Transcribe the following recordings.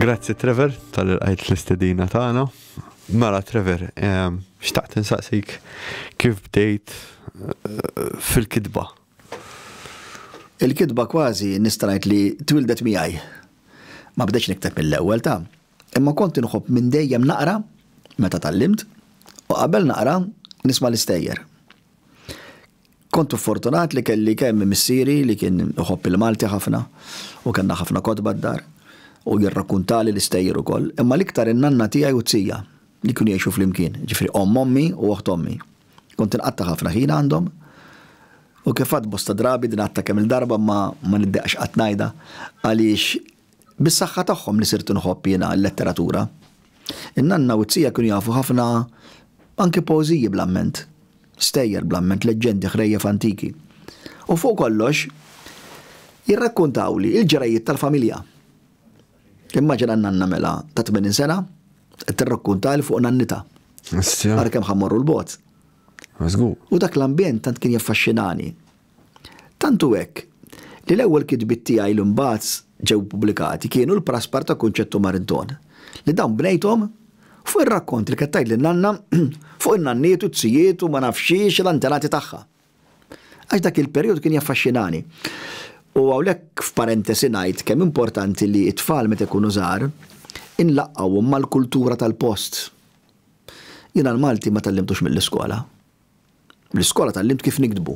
Grazzi Trevor tal-qajt l-istedina tagħna. Mela Trevor, ehm, xtaqt insaqsik kif bdejt eh, fil-kitba? Il-kitba kważi nistrajt li twildet miegħi. Ma bdeċ nikteb mill-ewwel ta' imma kont inħobb minn dejjem naqra meta tallimt u qabel naqra nisma' l-istejjer. Kont fortunat li kelli kemm missieri li kien iħobb il-Malti ħafna u kellna ħafna kotba d-dar u jirrakkuntali l-istejjer ukoll, imma l-iktar in-nanna tiegħi u t-tija li kienu jgħixu flimkien, jiġifieri omm ommi u oħt ommi. Kont inqatta' ħafna ħin għandhom u kif għadt bosta drabi, din għadtha kemm-il darba imma ma niddeqx qatt ngħidha għaliex Bis-saħħa tagħhom li sirt inħobb jiena l-letteratura. In-nanna u t-tija kienu jafu ħafna anki poeżiji bl-amment, stejjer bl-amment, leġġendi, ħrejjef antiki. U fuq kollox, jirrakkuntawli l-ġrajjiet tal-familja. Immaġina n-nanna mela ta' 80 sena qed tirrakkuntali fuq nannitha. Ara kemm ħa mmorru 'l bogħod. U dak l-ambjent tant kien jaffaxxinani. Tant hu hekk, li l-ewwel kitbiet tiegħi li mbagħad ġew ippubblikati kienu l-Praspar ta' Kunċett u Marinton, li dawn bnejthom fuq ir-rakkont li kienet tgħidli n-nanna fuq in-nanniet u t-tijiet u ma nafx xiex l-antenati tagħha. Għax dak il-perijodu kien jaffaxxinani. U hawnhekk f'parentesi ngħid kemm importanti li t-tfal meta jkunu żgħar, inlaqqgħuhom mal-kultura tal-post. Jiena l-Malti ma tgħallimtux mill-iskola. L-iskola tgħallimt kif niktbu,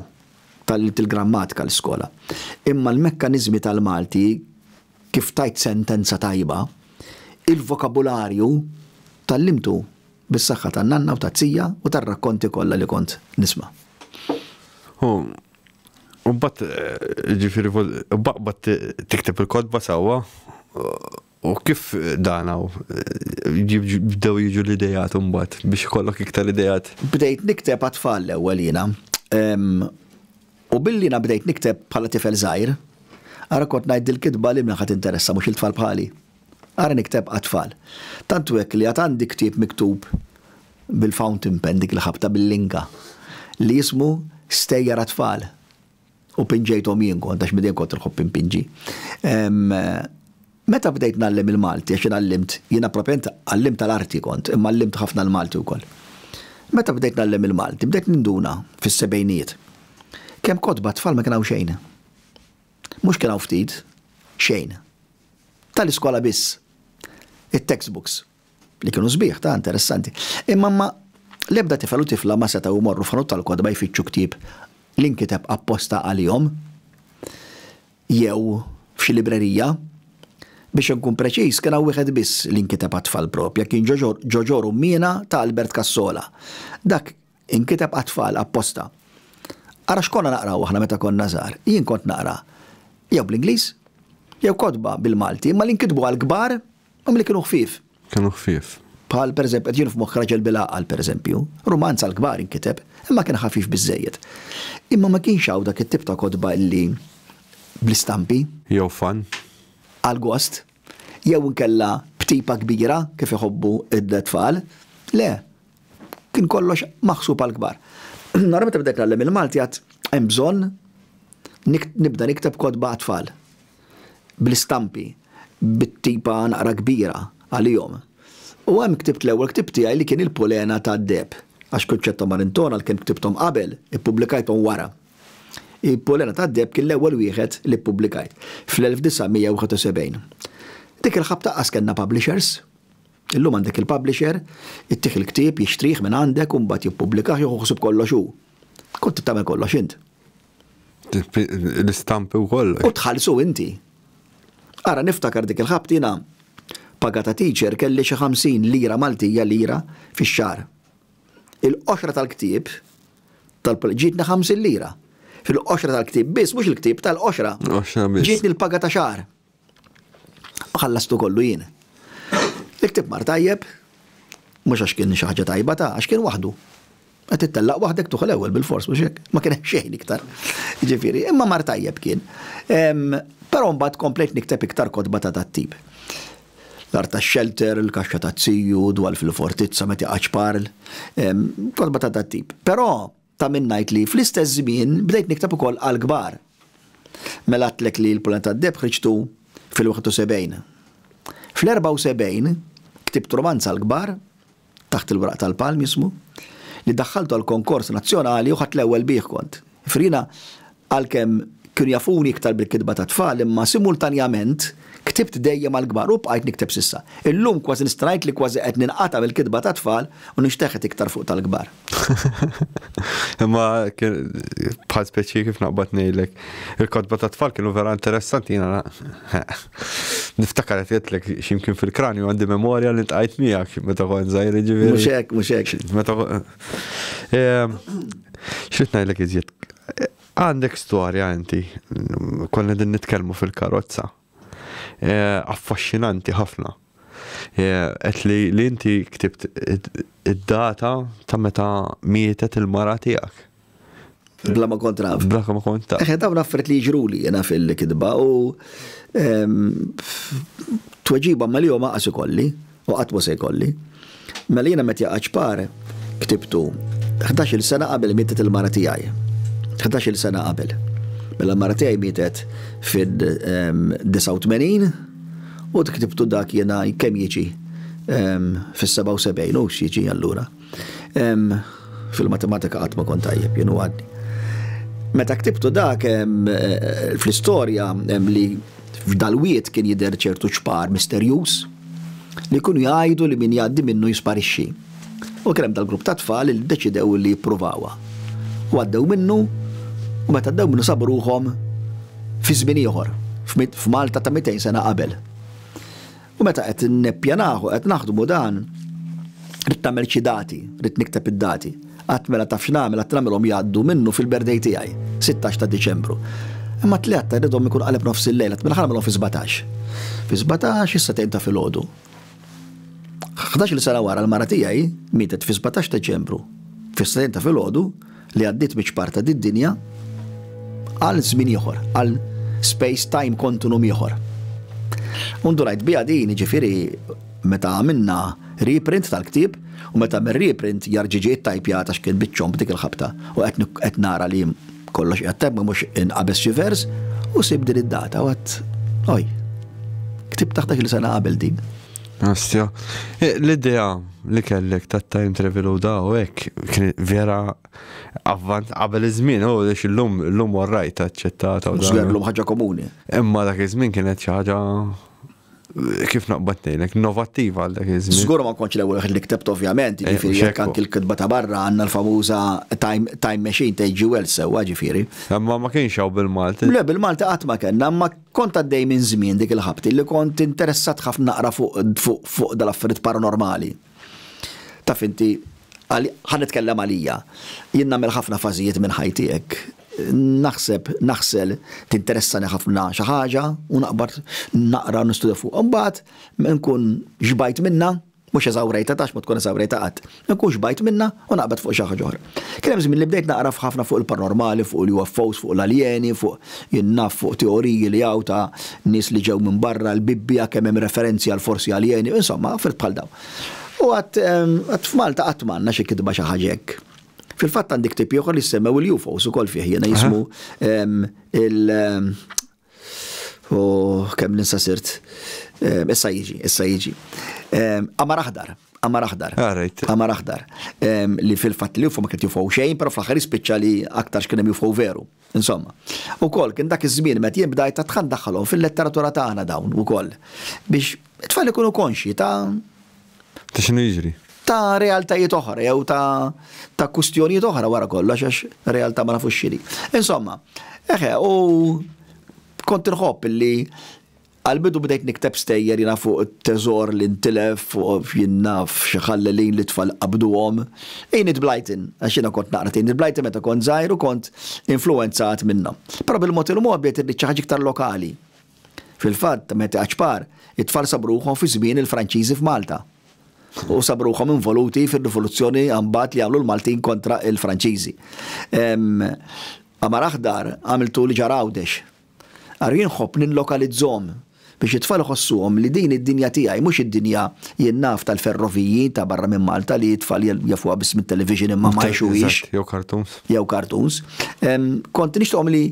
tgħallimt il-grammatika l-iskola, imma l-mekkaniżmi tal-Malti, kif tgħid sentenza tajba, il-vokabularju, tgħallimtu bis-saħħa tan-nanna u tat-tija u tar-rakkonti kollha li kont nisma'. U mbagħad, jiġifieri, baqbad tikteb il-kotba sewwa U kif dan hawn bdew jiġu l-ideat imbagħad biex ikollok iktar ideat? Bdejt nikteb għat-tfal l-ewwel jiena. U billi jiena bdejt nikteb bħala tifel żgħir, ara kont ngħid din il-kitba lil min ħa tinteressa mhux il-tfal bħali? Ara nikteb għat-tfal. Tant hu hekk li għad għandi ktieb miktub bil-fountain pen dik li ħabtha bil-linga li jismu Stejjer għat-tfal. u pinġejthom jien kont għax midejn kont nħobb impinġi. Meta bdejt nallem il-Malti, għax għallimt, jiena propjament għallimt tal-arti kont, imma għallimt ħafna l-Malti wkoll. Meta bdejt nallem il-Malti, bdejt ninduna fis-sebgħinijiet. Kemm kotba tfal ma kien hawn xejn. Mhux kien hawn ftit, xejn. Tal-iskola biss. It-textbooks. li kienu sbieħ ta' interessanti. Imma ma l-ebda tifel u tifla ma setgħu jmorru f'ħanut tal-kotba jfittxu ktieb li nkiteb apposta għalihom jew f'xi librerija. Biex inkun preċiż, kien hawn wieħed biss li nkiteb għat-tfal propja, kien Ġoġor Ummiena ta' Albert Cassola. Dak inkiteb għat-tfal apposta. Ara x'konna naqraw aħna meta konna żgħar. Jien kont naqra jew bl-Ingliż, jew kotba bil-Malti, imma li nkitbu għall-kbar Hom li kienu ħfief. Kienu ħfief. Bħal, per eżempju, qed jiġini f'moħħ Raġel bil-Għaqal, per eżempju. Rumanz għall-kbar inkiteb, imma kien ħafif biżżejjed. Imma ma kienx hawn dak it-tip ta' kotba li bl-istampi. Jew fan. Għall-gost. Jew inkella b'tipa kbira kif iħobbu t-tfal. Le. Kien kollox maħsub għall-kbar. Nara meta bdejt ngħallem il-Malti għad hemm bżonn nibda nikteb kotba għat-tfal. bl-istampi, bit-tipa naqra kbira għalihom. U hemm ktibt l-ewwel ktieb tiegħi li kien Il-Pulena tad-Deheb, għax Concetta Marintone għalkemm ktibthom qabel, ippubblikajthom wara. Il-Pulena tad-Deheb kien l-ewwel wieħed li ppubblikajt, fl-1971. Dik il-ħabta qas kellna publishers. Illum għandek il-publisher, ittih il-ktieb, jixtrih mingħandek u mbagħad jippubblikah jieħu ħsieb kollox hu. Kont trid tagħmel kollox int. L-istampi wkoll. U tħallsu inti. Ara niftakar dik il-ħabt jiena paga ta' teacher kelli xi 50 lira Maltija, lira, fix-xahar. Il-qoxra tal-ktieb ġietni 50 lira. Fil-qoxra tal-ktieb biss, mhux il-ktieb, tal-qoxra. Ġietni l-paga ta' xahar. U ħallastu kollu jien. Il-ktieb mar tajjeb, mhux għax kien xi ħaġa tajba ta' għax kien waħdu. Qed tittellaq waħdek tuħ l-ewwel bil-fors mhux hekk, ma kien hemm xejn iktar. Ġifieri, imma mar tajjeb kien. Però mbagħad komplejt nikteb iktar kotba ta' dat-tip. L-art tax-xelter, il-kaxxa taz-ziju, dwal fil-fortizza, meta jaqgħadx parl. Kotba ta' dat-tip. Però Ta' min ngħid li, fl-istess żmien, bdejt nikteb ukoll għall-kbar. Mela għedtlek li l-Pulani tad-Deheb ħriġtu fil-71. Fl-74 ktibt rumanz għall-kbar, Taħt il-Wraq tal-Palm jismu, li daħħaltu għall-konkors nazzjonali u ħadt l-ewwel bih kont. Jifieri jiena Għalkemm kienu jafuni iktar bil-kitba tat-tfal imma simultanjament ktibt dejjem għall-kbar u bqajt nikteb s'issa. Illum kważi nista' ngħid li kważi qed ninqata' mill-kitba tat-tfal u nixteħet iktar fuq tal-kbar. Imma bħal speċi kif naqbad ngħidlek, il-kotba tat-tfal kienu vera interessanti jiena niftakar qed jgħidlek x'imkien fil-kranju għandi memorja li ltqajt miegħek meta kont żgħir jiġifieri. Mhux hekk, mhux hekk. Meta X'rid ngħidlek iżjed? Għandek storja inti, konna din nitkellmu fil-karozza. Eh, affaxxinanti ħafna. Eh, qed li li inti ktibt id-data ta' meta mietet il-mara tiegħek. Bla ma kont naf. Bla ma kont taf. Eħe, dawn affert li ġruli jena fil-kidba u ehm, tweġiba ma li jom għasu kolli. U qatt mhu se jkolli. Mela jiena Mattia Aċpar ktibtu ħdax-il sena qabel mietet il-mara tiegħi. Ħdax-il sena qabel. Mela l-mara tiegħi mietet fid-89 u ktibtu dak jiena kemm jiġi fis-77 u x'jiġi allura. Fil-matematika qatt ma kont tajjeb jien u għadni. Meta ktibtu dak eh, fl-istorja li f'dalwiet kien jidher ċertu ċpar misterjuż li kunu jgħidu li min jgħaddi minnu jisparixxi. U kien hemm dal-grupp ta' tfal li ddeċidew li jippruvawa. U għaddew minnu u meta għaddew minnu sabu ruħhom fi żmien ieħor, f'Malta ta' 200 sena qabel. U meta qed nippjanah u qed naħdmu dan, ridt nagħmel xi dati, ridt nikteb id-dati. Qatt mela taf x'nagħmel, qatt nagħmilhom jgħaddu minnu fil-birthday tiegħi, sittax ta' Diċembru. Imma t-tlieta rridhom ikun qaleb nofs il-lejl, qatt mela ħa nagħmilhom fi sbatax. Fi sbatax is-setgħin ta' filgħodu. Ħdax-il sena wara l-mara tiegħi mietet fi sbatax Deċembru, fis-setgħin ta' filgħodu, li għaddiet miċ-ċpar ta' did-dinja għal żmien ieħor, għal space time kontunum ieħor. U ndunajt biha din, jiġifieri meta għamilna reprint tal-ktieb u meta mir reprint jarġiġi it-tajpja ta' xkien biċċom b'dik il-ħabta u qed nara li kollox qed tajb mhux inqabes xi vers u sib din id-data u għad oj. Ktib taħt il sena qabel din. Astja, e, l-idea li kellek ta' time travel u daw hekk vera avvant qabel iż-żmien u li illum illum warrajt aċċettata u dan. Llum ħaġa komuni. Imma dak iż-żmien kienet xi ħaġa kif naqbad nejlek, innovattiva għal dak iż-żmien. Żgur ma kontx l-ewwel li ktebt ovvjament, eh, ġifieri jekk anki l-kitba ta' barra għandna l-famuża time machine ta' G. Wells sewwa ġifieri. Imma ma kienx hawn bil-Malti. Le bil-Malti qatt ma kellna, ma Kont għaddej minn żmien dik il-ħabti li kont interessat ħafna naqra fuq dal-affarijiet paranormali. Taf inti, ħa nitkellem għalija, jien nagħmel ħafna fażijiet minn ħajti hekk. Naħseb, naħsel, tinteressani ħafna xi ħaġa u naqbad naqra u nistudja fuqha. Imbagħad nkun xbajt minnha, Mhux eżawrejtha għax ma tkun eżawrejtha qatt. Ma nkun xbajt minnha u naqbad fuq xi ħaġa oħra. Kien hemm żmien li bdejt naqra f'ħafna fuq il-paranormali, fuq il-UFOs, fuq l-aljeni, fuq, jien naf, fuq teoriji li hawn ta' nies li ġew minn barra, l-Bibbja kemm hemm referenzi għal forsi aljeni, insomma, affarijiet bħal dawn. U qatt, qatt f'Malta qatt ma għandna xi kitba xi ħaġa hekk. Fil-fatt għandi ktieb ieħor li jissemmew il-UFOs ukoll fih jiena jismu il, U kemm ninsa sirt. Issa jiġi, issa jiġi. Qamar aħdar, qamar aħdar. Qamar ah, aħdar. Li fil-fatt li ma kien jufaw xejn, però fl-aħħar jispiċċa li aktar x'kien hemm jufaw veru. Insomma. Ukoll kien dak iż-żmien meta jien bdajt ta' tħan daħħalhom fil-letteratura tagħna dawn ukoll. Biex it-tfal ikunu konxji ta' Ta' x'inhu jiġri? Ta' realtajiet oħra jew ta' ta' kwistjonijiet oħra wara kollox għax realtà ma nafux x'inhi. Insomma, eħe, u kont inħobb li għal-bidu bdejt nikteb stejjer jiena fuq it-teżor li ntilef, fuq jien naf xi ħallelin li t-tfal qabduhom. Enid Blyton, għax jiena kont naqra t'Enid Blyton meta kont żgħir u kont influwenzat minnha. Però bil-mod il-mod bdejt irrid xi ħaġa iktar lokali. Fil-fatt, meta kbar, it-tfal sabruhom fi żmien il-Franċiżi f'Malta. U sabruhom involuti fir-rivoluzzjoni mbagħad li għamlu l-Maltin kontra l-Franċiżi. Qamar aħdar għamiltu li ġara Għawdex. Ara jien nħobb nillokalizzhom biex it-tfal iħossuhom li din id-dinja tiegħi mhux id-dinja jien naf tal-ferroviji ta' barra minn Malta li t-tfal jafuha biss mit-television imma ma jgħixuhiex. Jew cartoons. Jew cartoons. Kont nixtieqhom li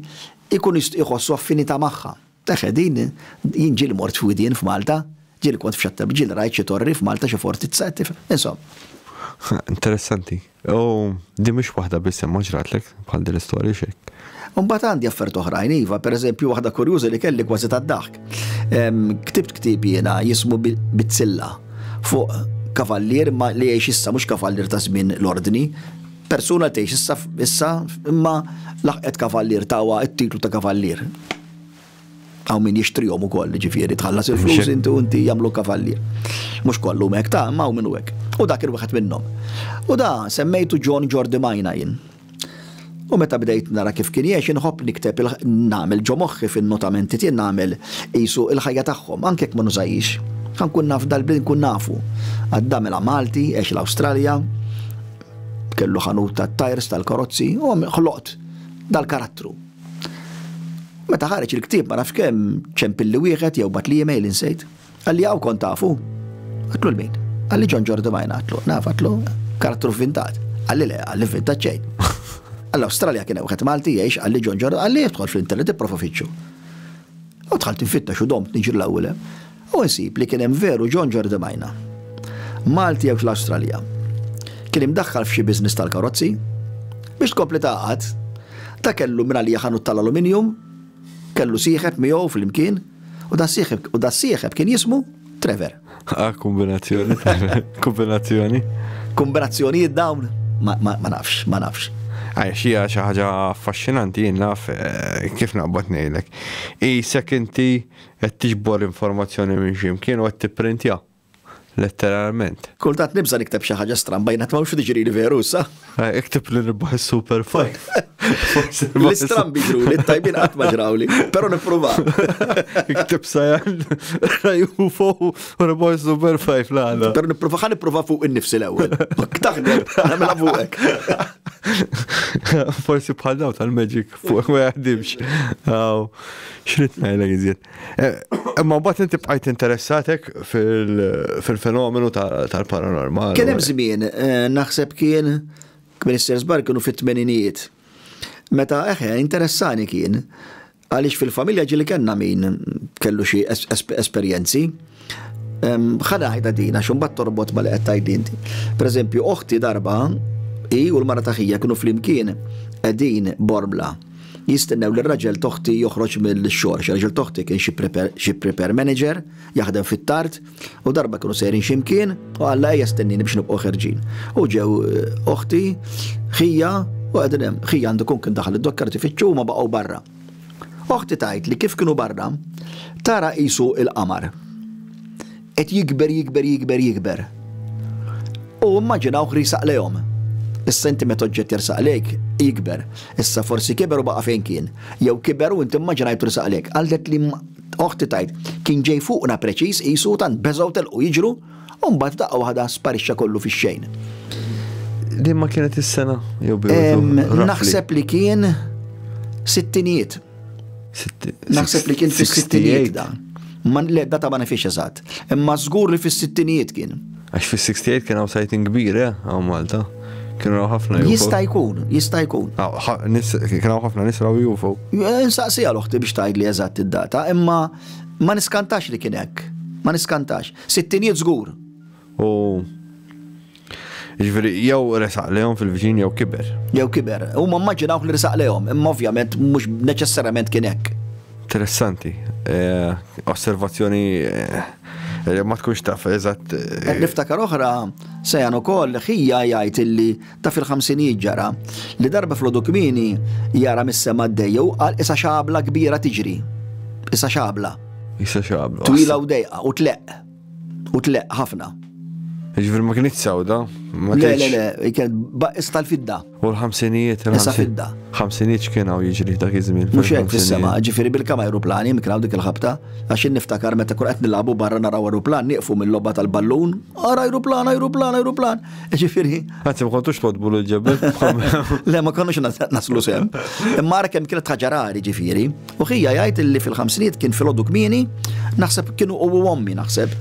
Ikun iħossu affinità magħha. Għax qegħdin, jien ġieli mort fi Widien f'Malta, ġieli kont f'Xattebni, ġieli rajt xi torri f'Malta, xi fortizza, qed tifhem. Insomma. Interessanti. U din mhix waħda biss imma ġratlek bħal din l-istorja xi hekk? Imbagħad għandi affarijiet oħrajn iva, pereżempju waħda kurjuża li kelli kważi tad-daħk. Ktibt ktieb jiena jismu Bizzilla fuq kavallier imma li jgħix issa mhux kavallier ta' żmien l-Ordni, Persuna tgħix issa issa imma laħqet kavallier tawha t-titlu ta' kavallier. Hawn min jixtrihom ukoll, ġifieri tħallas il-flus inti u inti jagħmlu kavallier. Mhux kollu hekk ta' imma hawn min hu hekk. U dak kien wieħed minnhom. U da semmejtu John Jordi Majna jien. U meta bdejt nara kif kien jgħix inħobb nikteb nagħmel ġo moħħi fin-notamenti tiegħi nagħmel qisu l-ħajja tagħhom anke jekk ma nużajhiex. Ħa nkun naf dal-bliet nkun nafu. Għadd għamilha Malti, għex l-Awstralja, Kellu ħanut tat-tajrs tal-karozzi u ħloqt dal-karattru. Meta ħareġ il-ktieb ma nafx kemm ċempilli wieħed jew batli email insejt. Qalli hawn kont tafu? Għatlu l-min? Qalli John Jordi Majna għatlu, naf għatlu, karattru vintat. Qalli le, qalli vintat ċejn. Għall-Awstralja kien hemm Malti jgħix għalli John Jordi, għalli jidħol fl-internet ipprova fitxu. U tħalt infittex u domt niġri l-ewwel. U nsib li kien hemm veru John Jordi Majna. Malti għex l-Awstralja. Kien imdaħħal f'xi business tal-karozzi. Biex tkompli tgħaqqad, ta' kellu mingħalija ħanut tal-aluminium, kellu sieħeb miegħu flimkien, u das-sieħeb u das-sieħeb kien jismu Trevor. Ah, kombinazzjoni. kombinazzjoni. Kombinazzjonijiet dawn? Ma, ma, ma nafx, ma nafx. Għaj, xija xaħġa affaxxinanti jien naf eh, kif naqbad nejlek. I sekinti Qed tiġbor informazzjoni minn xi mkien u qed tipprintja, letteralment. Kultant nibża' nikteb xi ħaġa stramba, jien qatt m'hawnx li tiġrili veru issa. Ikteb li nirbaħ is-Super Five. L-istrambi ġruli, t-tajbin qatt ma ġrawli, però nippruva. Ikteb sajan rajhu fuq u nirbaħ is-Super Five l-għala. Però nippruva ħa nippruva fuq innifsi l-ewwel. Taħdem, nagħmilha fuqek. Forsi bħal daw tal-magic fuq ma jaħdimx. Xrit ngħidlek iżjed. Imma eh, mbagħad inti bqajt interessatek fil-fenomenu tal-paranormal. Kien hemm żmien, eh, naħseb kien Minister Zbar kienu fit-tmeninijiet. Meta eħe, eh, interessani kien, għaliex fil-familja ġili kellna min kellu xi esperjenzi. Ħana ħajda dina, xumbat torbot ma li qed tgħid inti. Pereżempju, oħti darba i u l-mara taħija kienu flimkien qegħdin borbla jistennew li raġel toħti joħroġ mill-xor. Raġel toħti kien xi prepare manager, jaħdem fit-tart, u darba kienu sejrin ximkien, u għalla ejja stennini biex nibqgħu ħerġin. U ġew eh, oħti, ħija, u għedin hemm, ħija għandu kun kien daħal id-dokkar tifittxu ma baqgħu barra. Oħti tgħid li kif kienu barra, tara qisu l-qamar qed jikber jikber jikber jikber. U immaġinawh li jsaq lejhom. Issa inti meta oġġett jersaq lejk, jikber. Issa forsi kiber u baqa' fejn kien. Jew kiber u inti mmaġinajtu li saq lejk. Qaltli oħti tgħid, kien ġej fuqna preċiż qisu u tant beżgħu telqu jiġru, u mbagħad f'daqqa waħda sparixxa kollu fix-xejn. Li ma kienet is-sena jew bidu? Naħseb li kien sittinijiet. Naħseb li kien fis-sittinijiet dan. Man le data ma nifiex eżatt. Imma żgur li fis-sittinijiet kien. Għax fis-68 kien hawn sajtin kbir, eh, hawn Malta. Kien raw ħafna UFO. Jista' jkun, jista' jkun. Kien raw ħafna nis raw UFO. Eh, Nsaqsi għal uħti biex tgħidli eżatt id-data, imma ma niskantax li kien hekk. Ma niskantax. Sittinijiet żgur. U Ġveri, jew resaq lehom fil-viċin jew kiber. Jew kiber. U ma mmaġinawk li resaq lehom, imma ovvjament mhux neċessarjament kien hekk. Interessanti. Eh, osservazzjoni eh, ma tkunx taf eżatt. Eh. Niftakar oħra, sejan ukoll ħija jgħid illi Ta' fil-ħamsinijiet ġara li darba flodu kmieni jara mis-sema għaddejja u qal isa xabla kbira tiġri. Isa xabla. Isa xabla. Twila u dejqa u tleq. U tleq ħafna. Ġifir ma kienet sawda. Le, le, le, kienet baqis tal-fidda. U l-ħamsinijiet. Isa fidda. ħamsinijiet kien għaw jiġri dak iż-żmien. Mux jgħed fis-sema, ġifiri bil-kama aeroplani, mikraw dik il-ħabta, għax niftakar meta kun qed nilabu barra naraw aeroplan, nieqfu mill-logħba tal-ballun, ara aeroplan, aeroplan, aeroplan. Ġifiri. Għanzi, ma kontux todbu l-ġebel. Le, ma konux naslu sem. Mara kem kienet ħagġarari ġifiri. U ħija jgħajt li fil-ħamsiniet kien fil-ħodu kmini, naħseb kienu u għommi naħseb.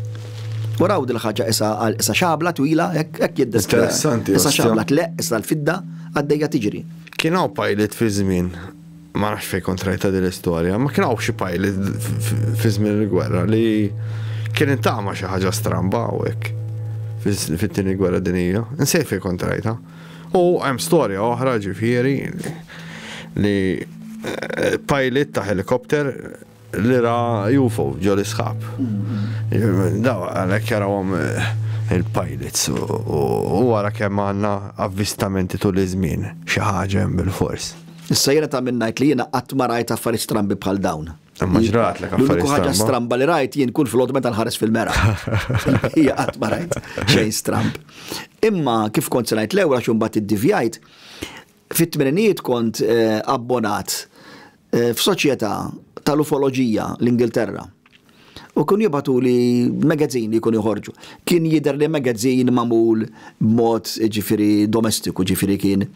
U raw dil-ħagġa isa għal isa xabla twila, ekk jiddes. Interessanti. Isa xabla tleq, isa l-fidda, għaddejja tiġri. Kien hawn pilot fi żmien Ma nafx fejn kont rajta din l-istorja, ma kien hawn xi pajli fi żmien il-gwerra li kien intama xi ħaġa stramba hawnhekk fit-tieni gwerra dinija. Nsej fejn kont rajta. U hemm storja oħra ġifieri li eh, pajlit ta' helikopter li ra UFO ġo l-isħab. Daw għalhekk jarawhom eh, il-pilots u wara kemm għandna avvistamenti tul iż-żmien xi ħaġa hemm bil-fors. Issa jiena ta' minn ngħid li jiena qatt ma rajt affarijiet strambi bħal dawn. Imma ġrat l L-uniku ħaġa stramba li rajt jien kull flot meta nħares fil-mera. Hija qatt ma rajt xejn stramb. Imma kif kont se ngħid l-ewwel għax imbagħad iddivjajt, Fit-tmeninijiet kont abbonat f'soċjetà tal-ufoloġija l-Ingilterra u kienu jibgħatuli megazzini jkunu joħorġu. Kien jidher li megazzin magħmul b'mod jiġifieri domestiku, jiġifieri kien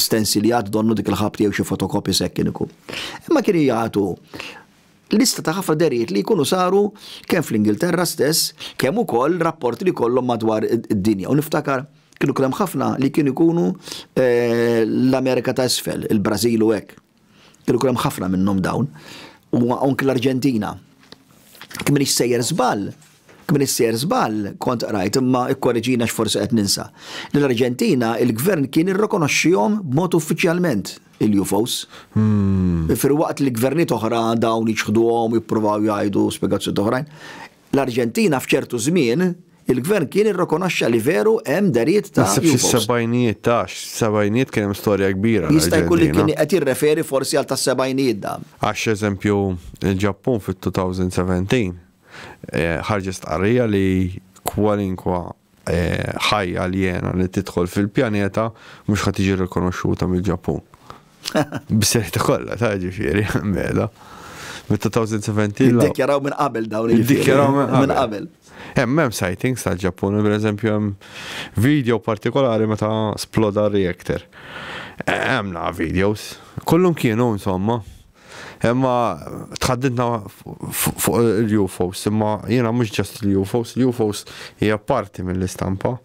stensiljat donnu dik il-ħabta jew xi fotokopjes hekk kien ikun. Imma kienu jagħtu Lista ta' ħafna dehriet li jkunu saru kemm fl-Ingilterra stess, kemm ukoll rapporti li jkollhom madwar id-dinja. U niftakar kienu kien hemm ħafna li kienu jkunu l-Amerika ta' Isfel, il-Brażil u hekk. Kienu jkun hemm ħafna minnhom dawn. U anki l-Arġentina. Jekk m'iniex sejjer żball, Kmini ssejjer żball, kont qrajt, imma ikkoreġini għax forsi qed ninsa, li l-Arġentina, il-gvern kien irrikonoxxihom b'mod uffiċjalment, il-UFOs. Filwaqt li gvernijiet oħra dawn jiċħduhom u jippruvaw jgħidu spjegazzjonijiet oħrajn, l-Arġentina f'ċertu żmien, il-gvern kien irrikonoxxa li veru hemm dehriet ta' UFOs. Naħseb fis-sebgħinijiet tax, sebgħinijiet kien hemm storja kbira. Jista' jkun li kien qed jirreferi forsi għal tas-sebgħinijiet dan. Għax eżempju, il-Ġappun fit-2017, Ħarġet stqarrija li kwalinkwa ħajja aljena li tidħol fil-pjaneta mhux ħa tiġi rikonoxxuta mill-Ġappun. Bis-serjetà kollha ta' ġifieri, mela. Mid-2017. Iddikjaraw minn qabel dawn il-ġifieri. Iddikjaraw minn qabel. Hemm hemm sightings tal-Ġappun, pereżempju hemm video partikolari meta sploda reactor. Hemm naqa' videos. Kollhom kienu insomma. Imma tħaddidna fuq il-UFOs, imma jiena mhux ġast il-UFOs, il-UFOs hija parti mill-istampa.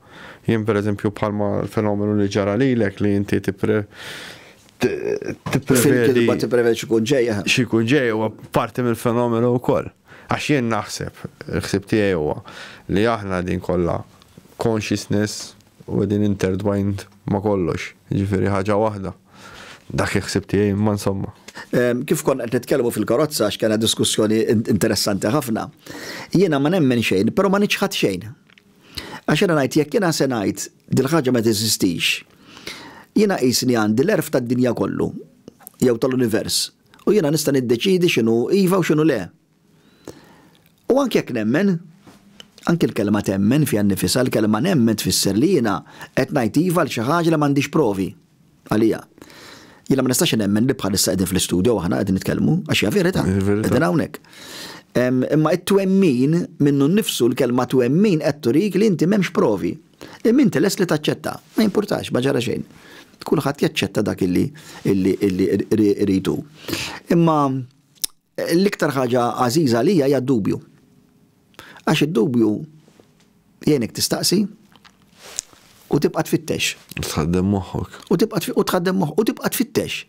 Jien pereżempju bħalma l-fenomenu li ġara lilek li inti tipre tipprevedi. Ma tipprevedi xi jkun ġej. Eh. Xi jkun ġej huwa parti mill-fenomenu wkoll. Għax jien naħseb, il-ħsib tiegħi huwa li aħna din kollha consciousness U qegħdin intertwined ma' kollox, jiġifieri ħaġa waħda. Dak il-ħsieb tiegħi, imma insomma. Kif konna qed nitkellmu fil-karozza għax kellna diskussjoni interessanti ħafna, jiena ma nemmen xejn, però ma niċħad xejn. Għax jiena ngħid jekk jiena se ngħid dil-ħaġa ma teżistix, jiena qisni għandi l-għerf tad-dinja kollu jew tal-univers u jiena nista' niddeċiedi x'inhu iva u x'inhu le. U anki jekk nemmen, anki l-kelma temmen fiha nnifisha, l-kelma nemmen tfisser li jiena qed ngħid iva għal xi ħaġa li m'għandix provi għaliha. Jiena ma nistax nemmen li bħalissa qegħdin fl-istudjo aħna qegħdin nitkellmu għax hija verità. Qegħdin hawnhekk. Imma t-twemmin minnu nnifsu l-kelma twemmin qed turik li inti m'hemmx provi. Imma inti lest li taċċetta, ma jimpurtax, ma ġara xejn. Kulħadd jaċċetta dak illi illi illi rridu. Imma L-iktar ħaġa għażiża għalija hija d-dubju. Għax id-dubju jgħinek tistaqsi u tibqa' tfittex. U tħaddem moħħok. U tibqa' u tħaddem moħħok u tibqa' tfittex.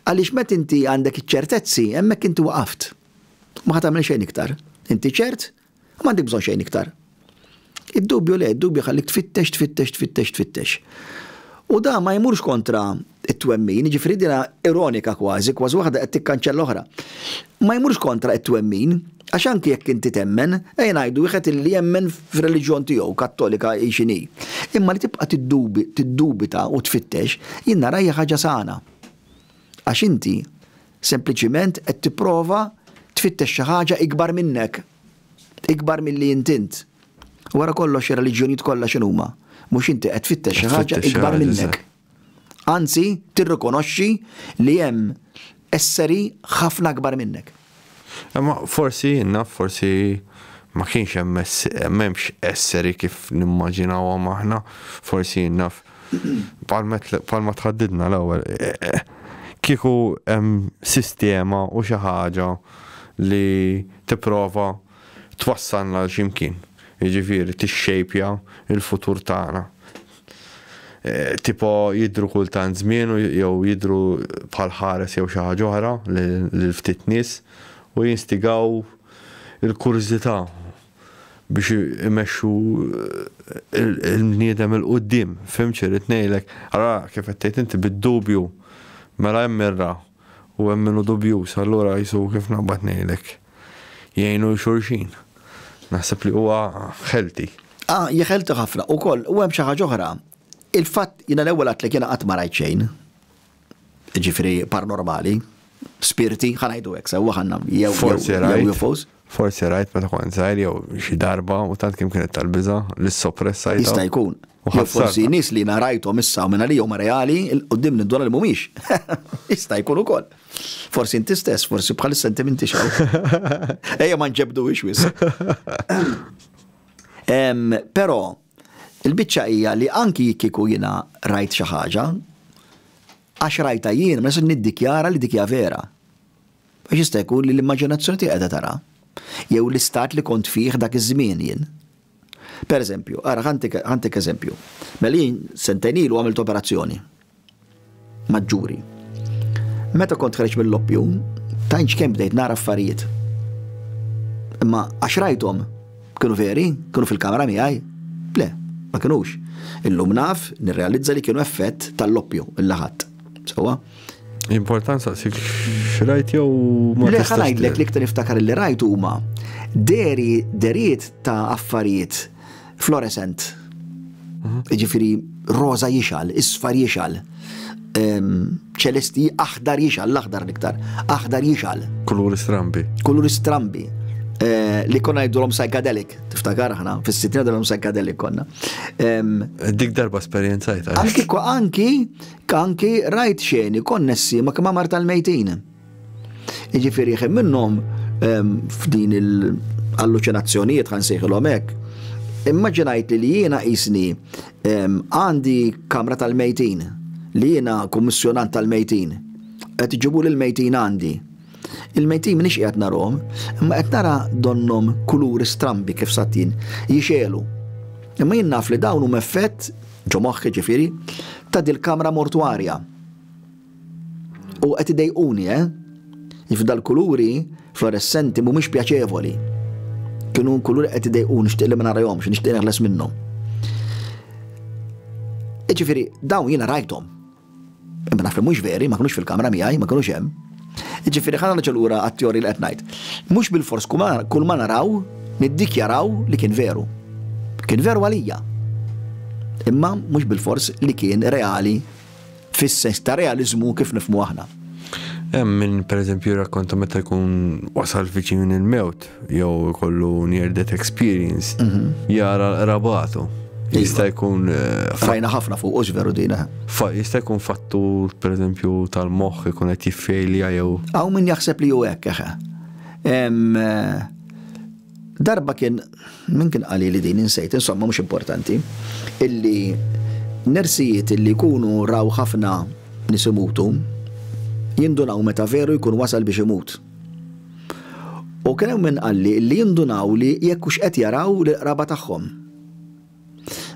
Għaliex meta inti għandek iċ-ċertezzi, hemmhekk inti waqaft. Ma ħa tagħmel xejn iktar. Inti ċert U m'għandek bżonn xejn iktar. Id-dubju le, id-dubju jħallik tfittex, tfittex, tfittex, tfittex. U dan ma jmurx kontra t-twemmin, jiġifieri dinha ironika kważi, kważi waħda qed tikkanċella oħra. Ma jmurx kontra t-twemmin, għax anki jekk inti temmen, ejja ngħidu wieħed li jemmen fir-reliġjon tiegħu, Kattolika hi x'inhi. Imma li tibqa' tiddubita u tfittex, jien naraha hija ħaġa sana. Għax inti Sempliċiment qed tipprova tfittex xi ħaġa ikbar minnek, ikbar milli int int. Wara kollox ir-reliġjonijiet kollha x'inhuma? Mhux inti qed tfittex xi ħaġa ikbar minnek. Anzi, tirrikonoxxi li hemm esseri ħafna akbar minnek. Imma forsi jien naf forsi ma kienx hemm m'hemmx esseri kif nimmaġinawhom aħna, forsi jien naf Bħalma tħaddidna l-ewwel, kieku hemm sistema u xi ħaġa li tipprova twassalna għal xi mkien, jiġifieri tixxejpja l-futur tagħna. Tipo jidhru kultant żmien jew jidhru bħal ħares jew xi ħaġa oħra lil ftit nies u jinstigaw il-kurżità. biex imexxu il-bniedem il-quddiem. Fim xirrit ngħidlek? Ara kif qed tgħid inti bid-dubju. Mela hemm mirra u hemm min hu dubjuż, allura qisu kif naqbad ngħidlek. Jgħinu xulxin. Naħseb li huwa ħelti. Ah, hi ħelti ħafna. Ukoll, u hemm xi ħaġa oħra. Il-fatt, jiena l-ewwel għedtlek jiena qatt ma rajt xejn. ġifiri paranormali, spirti, ħanajdu hekk sewa ħanna jew forsi UFOs. Forsi rajt meta kont żgħir jew xi darba u tant kim kienet tal-biża' li soppressa jista' jkun. U forsi nies li narajthom issa u minn għalihom reali qudiem nindwara li mhumiex. Jista' jkun ukoll. Forsi inti stess, forsi bħal sentimenti xaw. Ejja ma nġebdu ix wis. Però Il-biċċa hija li anki jekk kieku jiena rajt xi ħaġa, għax rajtha jien ma nistax niddikjara li dik hija vera. Għax jista' jkun li l-immaġinazzjoni tiegħi qiegħda taraha, jew l-istat li kont fih dak iż-żmien jien. Pereżempju, ara ħa ntik eżempju. Mela jien sentejn ilu għamilt operazzjoni. maġġuri. Meta kont ħreġ mill-oppju, tajnx kemm bdejt nara affarijiet. Imma għax rajthom kienu veri, kienu fil-kamera miegħi, le, ma kienux. Illum naf nirrealizza li kienu effett tal-oppju il-laħat. Sewa? Important saqsik xrajt jew ma Le ħanajdlek li ktar niftakar li rajt huma deri deriet ta' affarijiet Fluorescent. Mhm. Ġifiri, roza jixal, isfar jixal, ċelesti aħdar jixal, l-aħdar l-iktar, aħdar jixal. Kuluri strambi. Kuluri strambi. Eh, li konna jiddu l-om psychedelic, tiftakar ħna, fis-sittina l-om psychedelic konna. Dik darba esperienza jta. Anki, anki, anki rajt xeni konnessi ma kma marta l-mejtin. Jiġifieri ħin minnhom ehm, f'din il-alluċinazzjonijiet ħan sejħilhom hekk, immaġinajt li jiena jisni ehm, għandi kamra tal-mejtin, li jiena kummissjonant tal-mejtin, qed iġibu l mejtin għandi. Il-mejtin minix qiegħed narhom, imma qed nara donnom kuluri strambi kif satin jixelu. Imma jien naf li dawn huma effett ġo moħħi ġifieri ta' dil-kamra mortwarja. U qed idejquni, eh? Jiġifieri dal-kuluri fluoressenti mhumiex pjaċevoli. Kienu kuluri qed idejquni nixtieq li ma narahomx, nixtieq neħles minnhom. Jiġifieri dawn jiena rajthom. Imma naf li mhux veri, ma kinux fil-kamra miegħi, ma kinux hemm. Jiġifieri ħana niġu lura għat-teori li qed ngħid. Mhux bil-fors kull ma naraw niddikjaraw li kien veru. Kien veru għalija. Imma mhux bil-fors li kien reali fis-sens ta' realiżmu kif nifhmu aħna. Hemm min pereżempju jirrakkonta meta jkun wasal viċin il-mewt jew ikollu near death experience mhm. jara l-qrabatu. Iva. Jista' jkun eh, fajna ħafna fuq u veru dina. Jista' jkun fattur pereżempju tal-moħħ ikun qed jiffejlja jew. Hawn min jaħseb li hu hekk eħe. Eh, Darba kien min kien qali li din insejt, insomma mhux importanti, illi nersijiet illi jkunu raw ħafna nies imutu jindunaw meta veru jkun wasal biex imut. U kien hemm min qalli illi jindunaw li jekk hux qed jaraw lill-qraba tagħhom.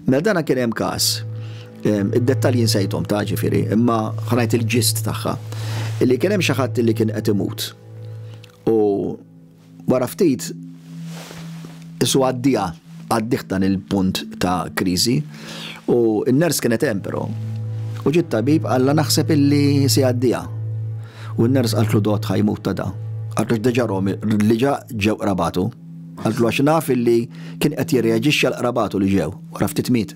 Mela dana kien hemm każ, ehm, id-dettalji nsejthom ta' ġifieri, imma ħanajt il-ġist tagħha, illi kien hemm xi ħadd illi kien qed imut. U Wara ftit, qisu għaddiha, għaddieh dan il-punt ta' kriżi, u n-nurse kienet hemm però. U ġie t-tabib qallha naħseb illi se jgħaddiha. U n-nurse qaltlu dott ħa jmut ta' da. Qaltlu għax diġà Romy, diġà ġew qrabatu. Qaltlu għax naf illi kien qed jirreaġixxi għal qrabatu li ġew. Wara ftit miet.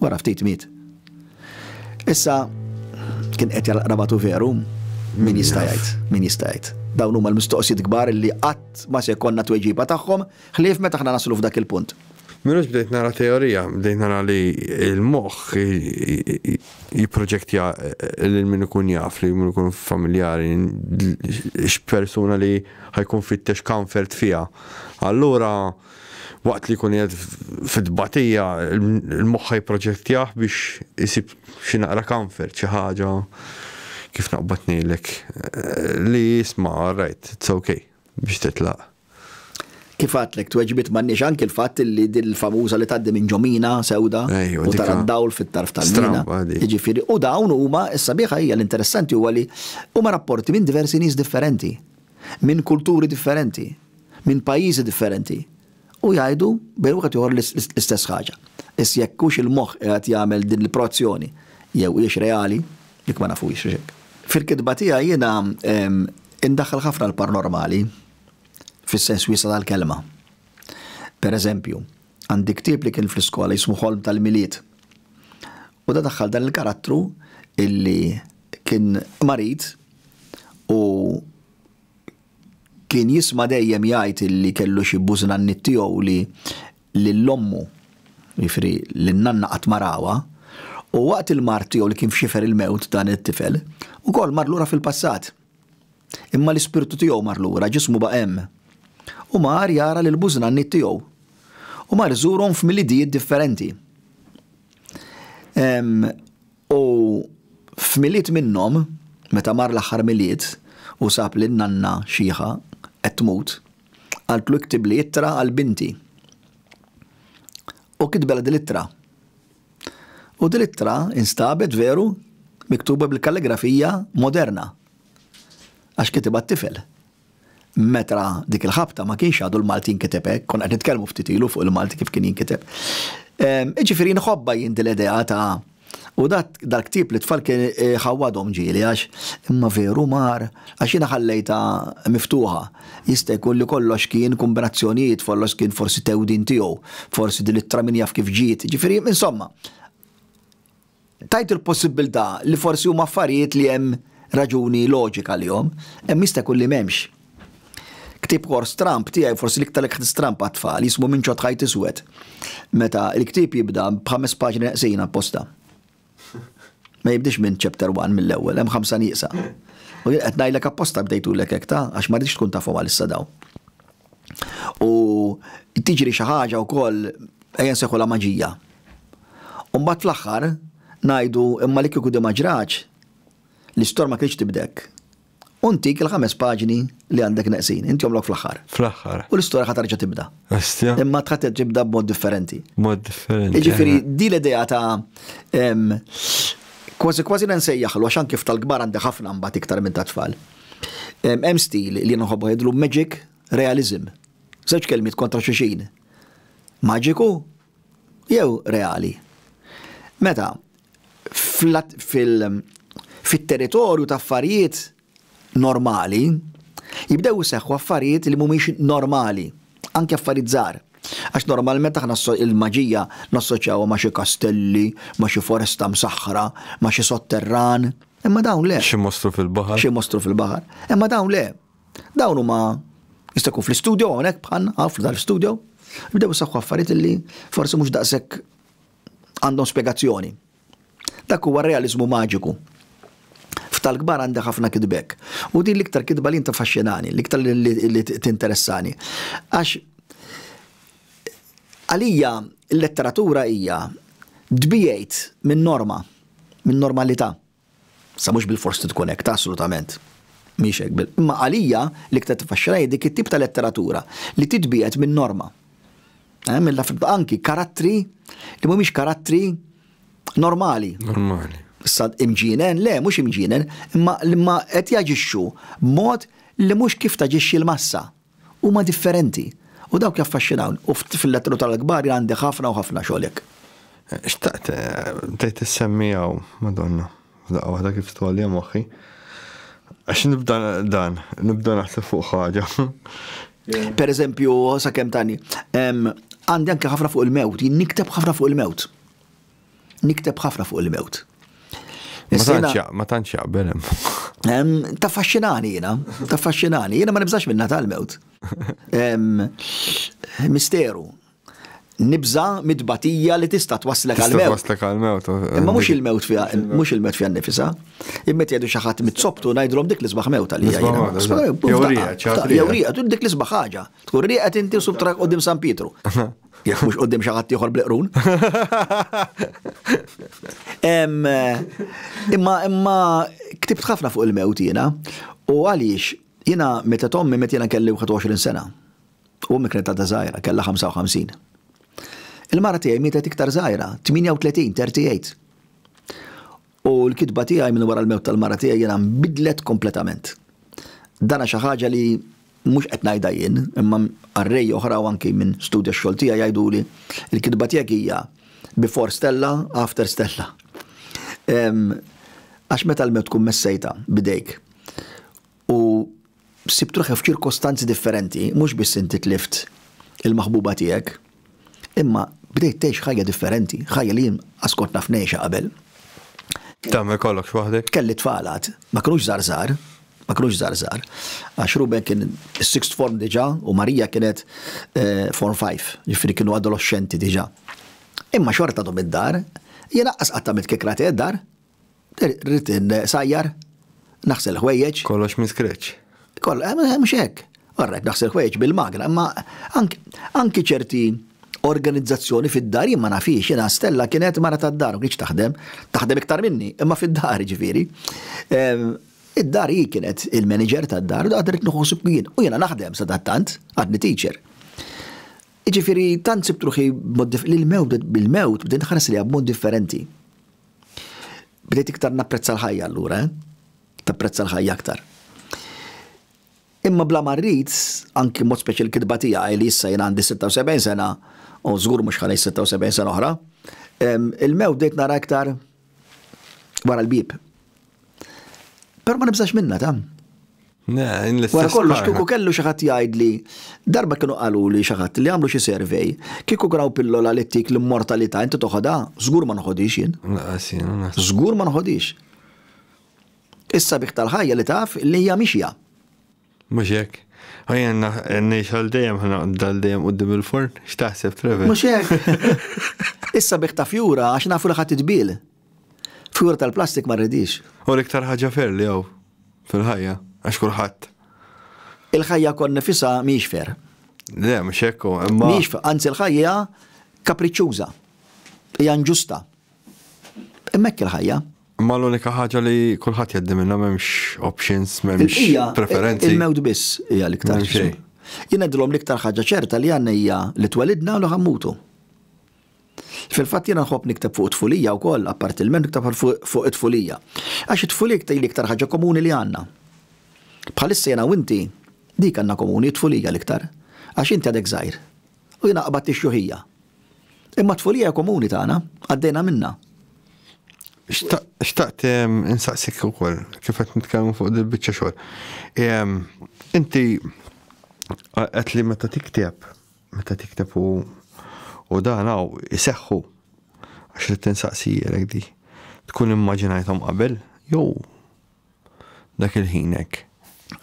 Wara ftit miet. Issa, kien qed jaraq rabatu veru, min jista' jgħid, min jista' jgħid. Dawn huma l-mistoqsijiet kbar li qatt ma se jkollna tweġiba tagħhom, ħlief meta aħna naslu f'dak il-punt. Minux bdejt nara teorija, bdejt nara li il-moħħ jipproġektja eh, lil min ikun jaf li min ikun familjari x'persuna li ħajkun fittex comfort fiha. Allura Waqt li jkun qiegħed fit-tbatija, il-moħħa jipproġettjah biex isib xi naqra comfort, xi ħaġa kif naqbad ngħidlek, li isma' all right, it's ok, biex titlaq. Kif għadtlek, tweġibiet m'għandniex anki l-fatt li din il-famuża li tgħaddi minn ġo mina sewda u tara d-dawl fit-tarf tal-mina. Jiġifieri, u dawn huma, is-sabiħa hija, l-interessanti huwa li huma rapporti minn diversi nies differenti. minn kulturi differenti, minn pajjiżi differenti u jgħidu bejn wieħed u ieħor l-istess ħaġa. Biss jekk hux il-moħħ qiegħed jagħmel din il-proazzjoni jew hijiex reali, dik ma nafuhiex għax hekk. Fil-kitba tiegħi jiena indaħħal ħafna l-parnormali fis-sens wiesa' tal-kelma. Per eżempju, għandi ktieb li kien fl-iskola jismu Ħolm tal-Milied. U da daħħal dan il-karattru illi kien marid, u kien jisma' dejjem jgħid illi kellu xi bużnanniet tiegħu li lil ommu, jiġifieri lin-nanna qatt ma rawha, u waqt il-mard tiegħu li kien f'xifer il-mewt dan it-tifel, ukoll mar lura fil-passat. Imma l-ispirtu tiegħu mar lura, ġismu baqa' hemm. U mar jara lill-bużnanniet tiegħu. U mar iżurhom f'milidijiet differenti. U f'Milied minnhom, meta mar l-aħħar Milied u sab lil nanna xiħa qed tmut, qaltlu iktibli ittra għal binti. U kitbela dil-ittra. U dil-ittra instabet veru miktuba bil-kalligrafija moderna għax kitibha t-tifel meta dik il-ħabta ma kienx għadu l-Malti jinkiteb hekk, konna qed nitkellmu ftit ilu fuq il-Malti kif kien jinkiteb. Ehm, iġifieri nħobba jien din l-idea ta' U dat dal-ktib li tfal kien eh, ħawadhom ġieli għax imma veru mar għax jiena ħallejta miftuħa. Jista' jkun li kollox kien kombinazzjonijiet, follox kien forsi tewdin tiegħu, forsi din it-traminja kif ġiet. Ġifieri, insomma, Tgħid il-possibbiltà li forsi huma affarijiet li hemm raġuni loġika għalihom, imma jista' jkun li m'hemmx. Ktieb Horse Trump tiegħi forsi l-iktar li ħdimt stramb għat-tfal, jismu Minn Ċodd Ħajt Iswed. Meta l-ktieb jibda b'ħames paġni neqsin apposta. Ma jibdiex minn chapter one mill-ewwel, hemm ħamsa nieqsa. U jien qed ngħidlek apposta bdejtulek hekk ta' għax ma ridx tkun tafhom għalissa dawn. u tiġri xi ħaġa wkoll ejja nsejħulha maġija. U mbagħad fl-aħħar ngħidu imma li kieku di ma ġratx, l-istorja ma kienx tibdek. U ntik il-ħames paġni li għandek neqsin, inti jomlok fl-aħħar. Fl-aħħar. U l-istorja ħa tarġa' tibda. Astja. Imma tħadd tibda b'mod differenti. Mod differenti. Jiġifieri eh. di l-idea ta' kważi kważi nsejjaħlu għax anke f'tal-kbar għandek ħafna mbagħad iktar minn tat-tfal. Hemm stil li nħobb għidlu magic realism. Żewġ kelmiet kontra xulxin. Maġiku jew reali. Meta fit-territorju ta' affarijiet normali jibdew iseħħu affarijiet li mhumiex normali, anke affarijiet żgħar. Għax normalment aħna l-maġija nassoċjawha ma' xi kastelli, ma' xi foresta msaħħra, ma' xi sotterran. Imma dawn le. Xi mostru fil-baħar. Xi mostru fil-baħar. Imma dawn le. Dawn huma jista' jkun fl-istudio hawnhekk bħal għaf tal-istudio. Bdew isaħħu affarijiet li forsi mhux daqshekk għandhom spjegazzjoni. Dak huwa realizmu maġiku. Ftal kbar għandi ħafna kitbek. U din l-iktar kitba li inta faxxinani, l-iktar li tinteressani. Għax għalija l-letteratura hija dbijajt minn norma. minn normalità. Sa mhux bilfors li tkun hekk, ta' assolutament mhix hekk bil. Imma għalija l-iktar tiffaxxinha hi dik it-tip ta' letteratura li titbiegħed min-norma. Eh, minn laf anki karattri li mhumiex karattri normali. Normali. Issa imġinen, le, mhux imġinen, imma li ma qed jaġixxu b'mod li mhux kif taġixxi l-massa. Huma differenti. U dawk jaffaxxinawni. U fil-lettru tal-Aħbari għandek ħafna u ħafna xogħol hekk. Xtaqt bdejt issemmi hawn, Madonna, f'daqqa waħda kif tgħolli moħħi. Għax nibda dan, nibda naħseb fuq ħaġa. Per eżempju, sakemm tani, għandi anke ħafna fuq il-mewt, jien nikteb ħafna fuq il-mewt. Nikteb ħafna fuq il-mewt. Ma tantx jaqbel hemm. Ta' faxxinani jiena, ta' faxxinani, jiena ma nibżax minna tal-mewt. Misteru. Nibża mitbatija li tista' twaslek għal-mewt. Twaslek għal-mewt. Imma mhux il-mewt fiha, mhux il-mewt fiha nifisa. Imma jgħidu xi ħadd mit-soptu ngħidlhom dik l-isbaħ mewt għalija. Jew rieqa, dik l-isbaħ ħaġa. Tkun rieqed inti u subtrak qudiem San Pietru. Jekk mhux qudiem xi ħadd ieħor bleqrun. Imma imma ktibt ħafna fuq il-mewt jiena u għaliex jiena meta tommi meta jiena kelli 21 sena. U mikret ta' żgħira kellha 55. Il-mara tiegħi mietet iktar żgħira, 38, 38. U l-kitba tiegħi minn wara l-mewt tal-mara tiegħi jiena nbidlet kompletament. Dana xi ħaġa li mhux qed ngħidha jien, imma qarrej oħra u anki min studja x-xogħol tiegħi jgħiduli, il-kitba tiegħek hija before Stella, after Stella. Għax meta l-mewt tkun messejtha b'idejk, u sibt ruħi f'ċirkostanzi differenti, mhux biss inti tlift il-maħbuba tiegħek, imma bdejt tgħix ħajja differenti, ħajja li jien askont naf ngħixha qabel. Tagħmel kollox waħdek? Kelli tfalat, ma kinux żarżar, ma kinux żarżar. Għax Ruben kien is-sixth form diġà u Marija kienet eh, form 5, ġifieri kienu adolescenti diġà. Imma xorta dom id-dar, jien aqqas qatt tagħmel kikra dar, Rrid insajjar, naħsel ħwejjeġ. Kollox minn scratch. Koll, eh, eh, mhux hekk. Orrajt naħsel ħwejjeġ bil-magna, imma anki ċerti organizzazzjoni fid-dar jien ma nafix, jiena Stella kienet mara tad-dar u kienx taħdem, taħdem iktar minni, imma fid-dar ġifieri. Ehm, id-dar hi kienet il-manager tad-dar u għadret nħossu kien u jiena naħdem sadattant għadni teacher. Ġifieri tant sibtruħi mod li l-mewt bil-mewt bdejt ħares li mod differenti. Bdejt iktar napprezza l-ħajja allura, eh? Tapprezza l-ħajja aktar. Imma bla ma rrid, anki mod speċi l-kitba tiegħi li issa jien għandi 76 sena, u żgur mhux ħalej 76 sena oħra, il-mew bdejt nara iktar wara l-bib. Però ma nibżax minna ta'. Wara kollox kieku kellu xi ħadd jgħidli, darba kienu qalu li xi ħadd li għamlu xi survey, kieku graw pillola li tik l-immortalità inti toħodha, żgur ma nħodix jien. Żgur ma nħodix. Is-sabiħ tal-ħajja li taf li hija mixja. Mhux hekk? Ħajja ngħix għal dejjem ħanaqbda għal dejjem quddiem il-forn? X'taħseb, Trevor? Mhux hekk? Is-sabiħ ta' fjura għax nafu li ħa titbiel. Fjura tal-plastik ma rridhiex. Hu l-iktar ħaġa fair li hawn fil-ħajja għax kulħadd. Il-ħajja kont nifisha mhijiex fair. Le, mhux hekk hu, imma. Mhijiex, anzi l-ħajja kapriċċuża. Hija inġusta. Hemmhekk il-ħajja. Imma l-unika ħaġa li kulħadd jgħaddi minnha m'hemmx options, m'hemmx preferenzi. Il-mewt biss hija l-iktar xejn. Jien ngħidilhom l-iktar ħaġa ċerta li għandna hija li twelidna u li ħammutu. Fil-fatt jiena nħobb nikteb fuq it-tfulija wkoll, apparti l-men nikteb fuq it-tfulija. Għax it-tfulija tgħid l-iktar ħaġa komuni li għandna. Bħalissa jiena u inti dik għandna komuni t-tfulija l-iktar. Għax inti għadek żgħir. U jiena qbadt ix-xjuħija. Imma t-tfulija hija komuni tagħna, għaddejna minnha. Xtaqt insaqsik ukoll kif qed nitkellmu fuq dil-biċċa xogħol. Inti qed li meta tikteb, meta tikteb u U dan għaw iseħħu għax li tinsaqsijilek di. Tkun immaġinajtom qabel, jew dak il-ħin hekk.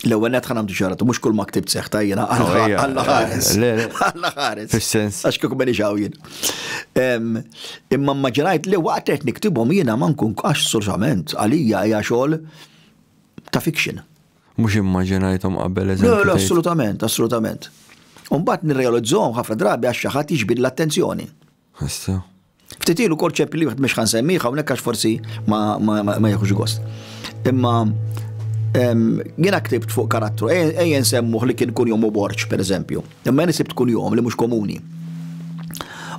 L-ewwel net ħanam ġaratu, mhux kull ma ktibt seħ tajjena għalla ħares. Għalla ħares. Fis-sens. Għax kieku beni xawjien. Imma mmaġinajt li waqt qed niktibhom jiena ma nkun għax assolutament għalija hija xogħol ta' fiction. Mhux immaġinajthom qabel eżempju. Le, assolutament, assolutament. Umbagħad nirrealizzhom ħafna drabi għax xi ħadd jiġbid l-attenzjoni. Issa. Ftit ilu kol ċep li mhux ħan semmiħ hawnhekk għax forsi ma jekux gost. Imma jiena ktibt fuq karattru, ejjen semmuh li kien kun jom u borċ, per eżempju. Imma jena sibt kun jom li mhux komuni.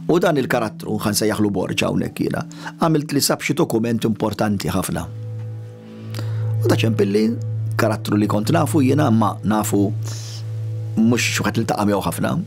U dan il-karattru, ħan sejjaħlu borġ hawnhekk jiena, għamilt li sab xi dokument importanti ħafna. U da ċempilli, karattru li kont nafu jiena ma nafu mhux xi ħadd li taqamew ħafna,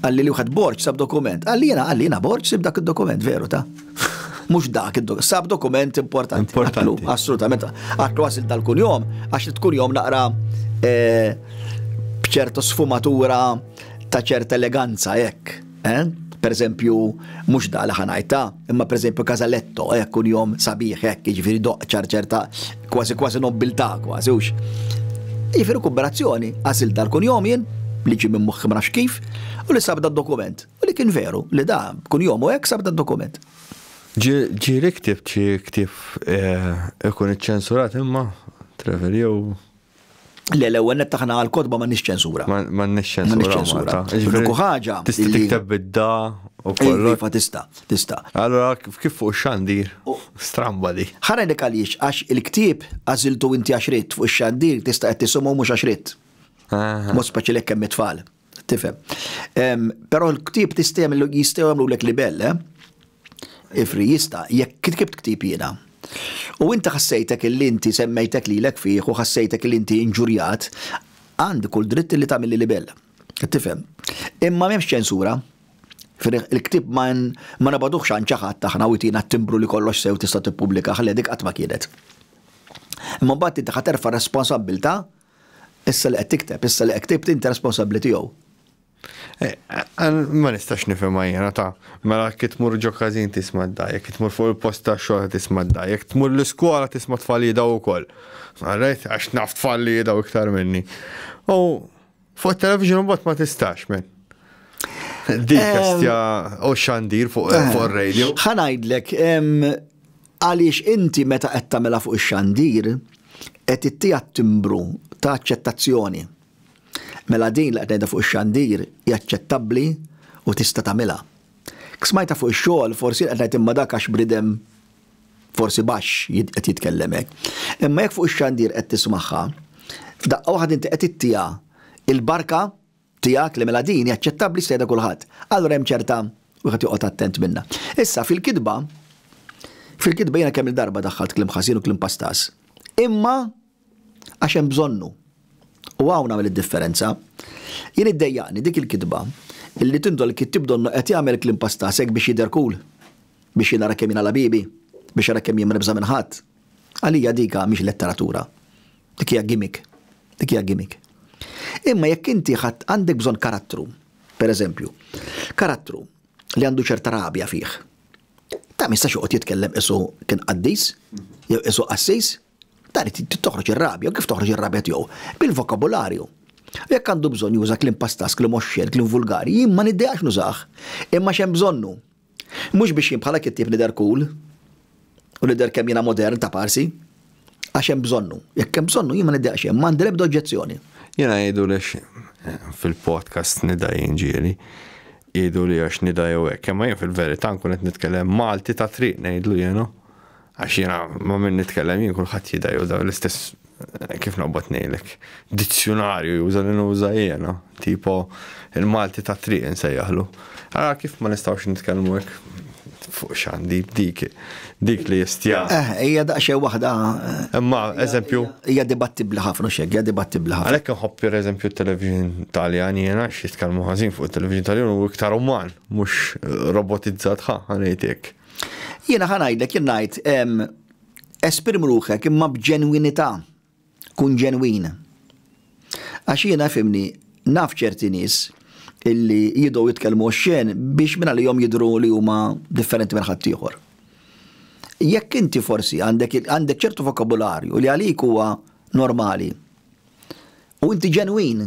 Qalli li wħed Borg sab dokument. Qalli jiena, qalli jiena Borg sib dak id-dokument, veru ta? Mhux dak id-dokument, sab dokument importanti. Importanti. Assolutament. Għatlu għasil tal-kun jom, għax tkun jom naqra eh, bċertu sfumatura ta' ċerta eleganza, jekk. Eh? Per eżempju, mhux da li ħanajta. Imma pereżempju Casaletto, hekk kun jom sabiħ hekk, jiġifieri doqq ċarċerta kważi kważi nobbiltà kważi hux. Jiġifieri kumbinazzjoni għażilt dal-kunjom jien li ġie minn moħħi ma nafx kif u li sab dad-dokument. U li kien veru li da kunjom u hekk sab dad-dokument. Ġieli ktibt xi ktieb eh, ikun iċċensurat imma, Trevor, jew Le, l-ewwel nett aħna għall-kotba m'għandniex ċensura. M'għandniex ċensura Malta. L-uniku ħaġa. Tista' tikteb bid-da u kollu. Iva tista', tista'. Allora kif fuq ix-xandir? Stramba di. Ħarajlek għaliex għax il-ktieb għażiltu inti għax ridt fuq ix-xandir tista' qed tisimgħu mhux għax ridt. Mod speċjali jekk hemm it-tfal. Tifhem. Però l-ktib tistem jistgħu jagħmlu lek libell, eh? Ifri jista' jekk kitkibt ktib jiena. U inti ħassejtek li inti semmejtek lilek fih u ħassejtek li inti inġurjat, għandi kull dritt li tagħmilli libell. Tifhem. Imma m'hemmx ċensura. Il-ktib ma nabaduħx għan ċaħat aħna u jtina t-timbru li kollox sew tista' tippubblika ħledik qatt ma kienet. Imma mbagħad inti ħaterfa' responsabbilta' Issa li qed tikteb, issa li ktibt inti responsabbli tiegħu. Ma nistax nifhimha jiena ta' mela jekk tmur ġo każin tisma' d-daj, jekk tmur fuq il-post tax-xogħol qed tisma' d-daj, jekk tmur l-iskola tisma' tfal jidgħu wkoll. Għarrejt għax naf tfal li jidgħu iktar minni. U fuq it-television mbagħad ma tistax men. Dik kastja u xandir fuq ir-radio. Ħanajdlek, Għaliex inti meta qed tagħmilha fuq ix-xandir qed ittiha t-timbru ta' aċċettazzjoni. Mela din li qed ngħidha fuq ix-xandir hi aċċettabbli u tista' tagħmilha. Jekk smajtha fuq ix-xogħol forsi jien qed ngħid imma dak għax bridem forsi baxx qed jitkellem hekk. Imma jekk fuq ix-xandir qed tismagħha, f'daqqa waħda inti qed ittiha il-barka Tiegħek li mela din hi aċċettabbli jistejda kulħadd. Allura hemm ċerta wieħed joqgħod attent minnha. Issa fil-kitba fil-kitba jiena kemm-il darba daħħalt kliem ħażin u kliem pastas. Imma għax hemm bżonnu. U hawn nagħmel id-differenza. Jien iddejjaqni dik il-kitba illi tindol il-kittib donnu qed jagħmel kliem pastas hekk biex jidher cool, biex jinara kemm jiena labibi, biex jara kemm jien ma nibża' minn ħadd. Għalija dika mhix letteratura. Dik hija gimmick. Dik hija gimmick. Imma jekk inti ħadd għandek bżonn karattru, per eżempju, karattru li għandu ċerta rabja fih, ta' ma jistax joqgħod jitkellem qisu kien qaddis, jew qisu qassis, ta' irid toħroġ ir-rabja, u kif toħroġ ir-rabja tiegħu? Bil-vokabularju. Jekk għandu bżonn juża kliem pastas, kliem oxxen, kliem vulgari, jien ma niddejax nużah, imma x'hemm bżonnu. Mhux biex jien bħala kittieb nidher cool u nidher kemm jiena modern taparsi. Għax hemm bżonnu. Jekk hemm bżonnu jien ma niddeqx hemm, m'għandi l-ebda oġġezzjoni. Jiena jgħidu li fil-podcast nidha jien ġieli. Jgħidu li għax nidha jew hekk, imma jien fil-verità nkun qed nitkellem Malti ta' triq ngħidlu jiena. Għax jiena ma' min nitkellem jien kulħadd jidher juża l-istess kif noqbod ngħidlek, dizzjunarju juża li nuża jiena, tipo il-Malti tat-triq insejjaħlu. Ara kif ma nistgħux nitkellmu hekk fuq xandi, dik, dik li jistja. Eh, hija daqsxejn waħda. Imma, eżempju. Hija dibattibli ħafna xek, hija dibattibli ħafna. Għalhekk inħobb per eżempju t-television Taljan jiena xi tkellmu ħażin fuq it-television Taljan u iktar uman, mhux robotizzat ħa, ħanejtek. Jiena ħa ngħidlek jien ngħid esprim ruħek imma b'ġenwinità, kun ġenwin. Għax jiena fimni naf ċerti nies illi jidgħu jitkellmu oxxen biex minn għalihom jidhru li huma differenti minn ħaddieħor. Jekk inti forsi għandek ċertu vokabularju li għalik huwa normali, U inti ġenwin,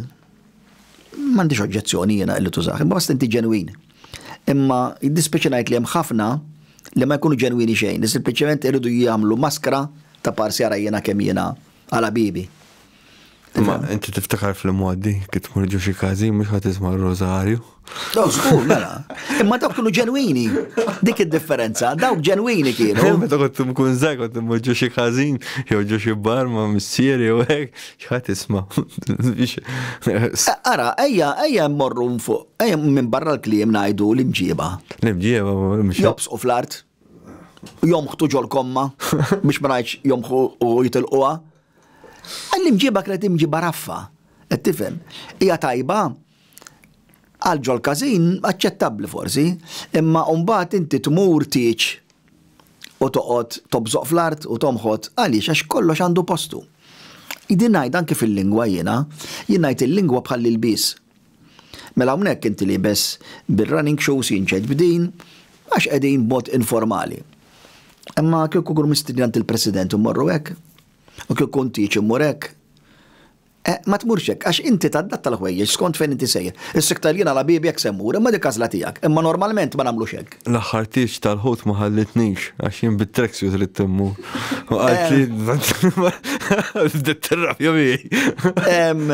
m'għandix oġġezzjoni jiena illi tużah, imma basta inti ġenwin. Imma jiddispjaċi ngħid li hemm ħafna li ma jkunu ġenwini xejn, li sempliċement iridu jagħmlu maskra ta' parsi ara jiena kemm jiena għal ħbibi. Imma inti tiftakar fl-imgħoddi kif tkun ġew xi każin mhux ħadd isma' r-rożarju. Daw żgur, mela. Imma dawk kienu ġenwini. Dik id-differenza, dawk ġenwini kienu. Meta kont imkun żgħar kont immoġġu xi ħażin, jew ġo xi bar ma' missier jew hekk, x'ħadd isma'. Ara, ejja, ejja mmorru fuq, ejja minn barra l-kliem ngħidu l-imġieba. L-imġieba, mhux. Jobsqu fl-art, jomħtu ġol komma, biex ma ngħidx jomħu u jitilquha. L-imġieba kienet imġieba raffa, qed tifhem. Hija tajba, Għal Joel Kazin aċċettabbli forsi, imma mbagħad inti tmur tieġ u toqgħod tobżoq fl-art u tomħod għaliex għax kollox għandu postu. Din ngħidha anki fil-lingwa jiena, jien ngħid il-lingwa bħall-ilbies. Mela hawnhekk inti liebes bir-running shoes jien ġejt b'din għax qegħdin b'mod informali. Imma kieku nkunu mistiednin għand il-President u mmorru hekk, u kieku ntieġ immur hekk, Eh, ma tmurx hekk, għax inti tadatta l-ħwejjeġ skont fejn inti sejjer. Is-sikta li jien għala bibi hekk se mmur, imma dik għażla tiegħek. Imma normalment ma nagħmlux hekk. L-aħħar tieġ tal-ħut ma ħallitnix għax jien bit-tracksuit ridt immur. U qalt li bdiet tirrabja miegħi. Em,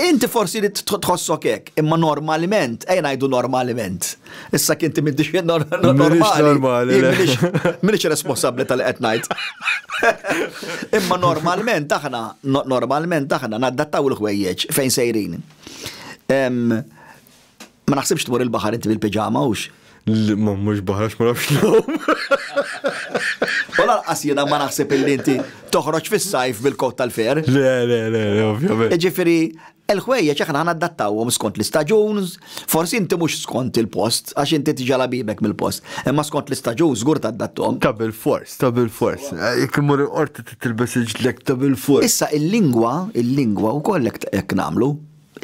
Inti forsi li tħossok hekk, imma normalment, ejn ngħidu normalment. Issa kinti m'intix normali. Minix responsabli tal-qed ngħid. Imma normalment aħna, normalment aħna naddattaw il-ħwejjeġ fejn sejrin. Ma naħsibx tmur il-baħar inti bil-piġama hux. Ma mhux baħrax ma nafx lhom. U lanqas jiena ma naħseb illi inti toħroġ fis-sajf bil-kot tal-fer. Le, le, le, ovvjament. Ġifieri, Il-ħwejjeġ aħna ħanadattawhom skont l-istaġun, forsi inti mhux skont il-post, għax inti tiġa' labibek mill-post, imma skont l-istaġun żgur taddatthom. Ta' bilfors, ta' bilfors. Jekk immur il-qorti trid tilbes il-ġdlek ta' bilfors. Issa il-lingwa, il-lingwa wkoll hekk nagħmlu.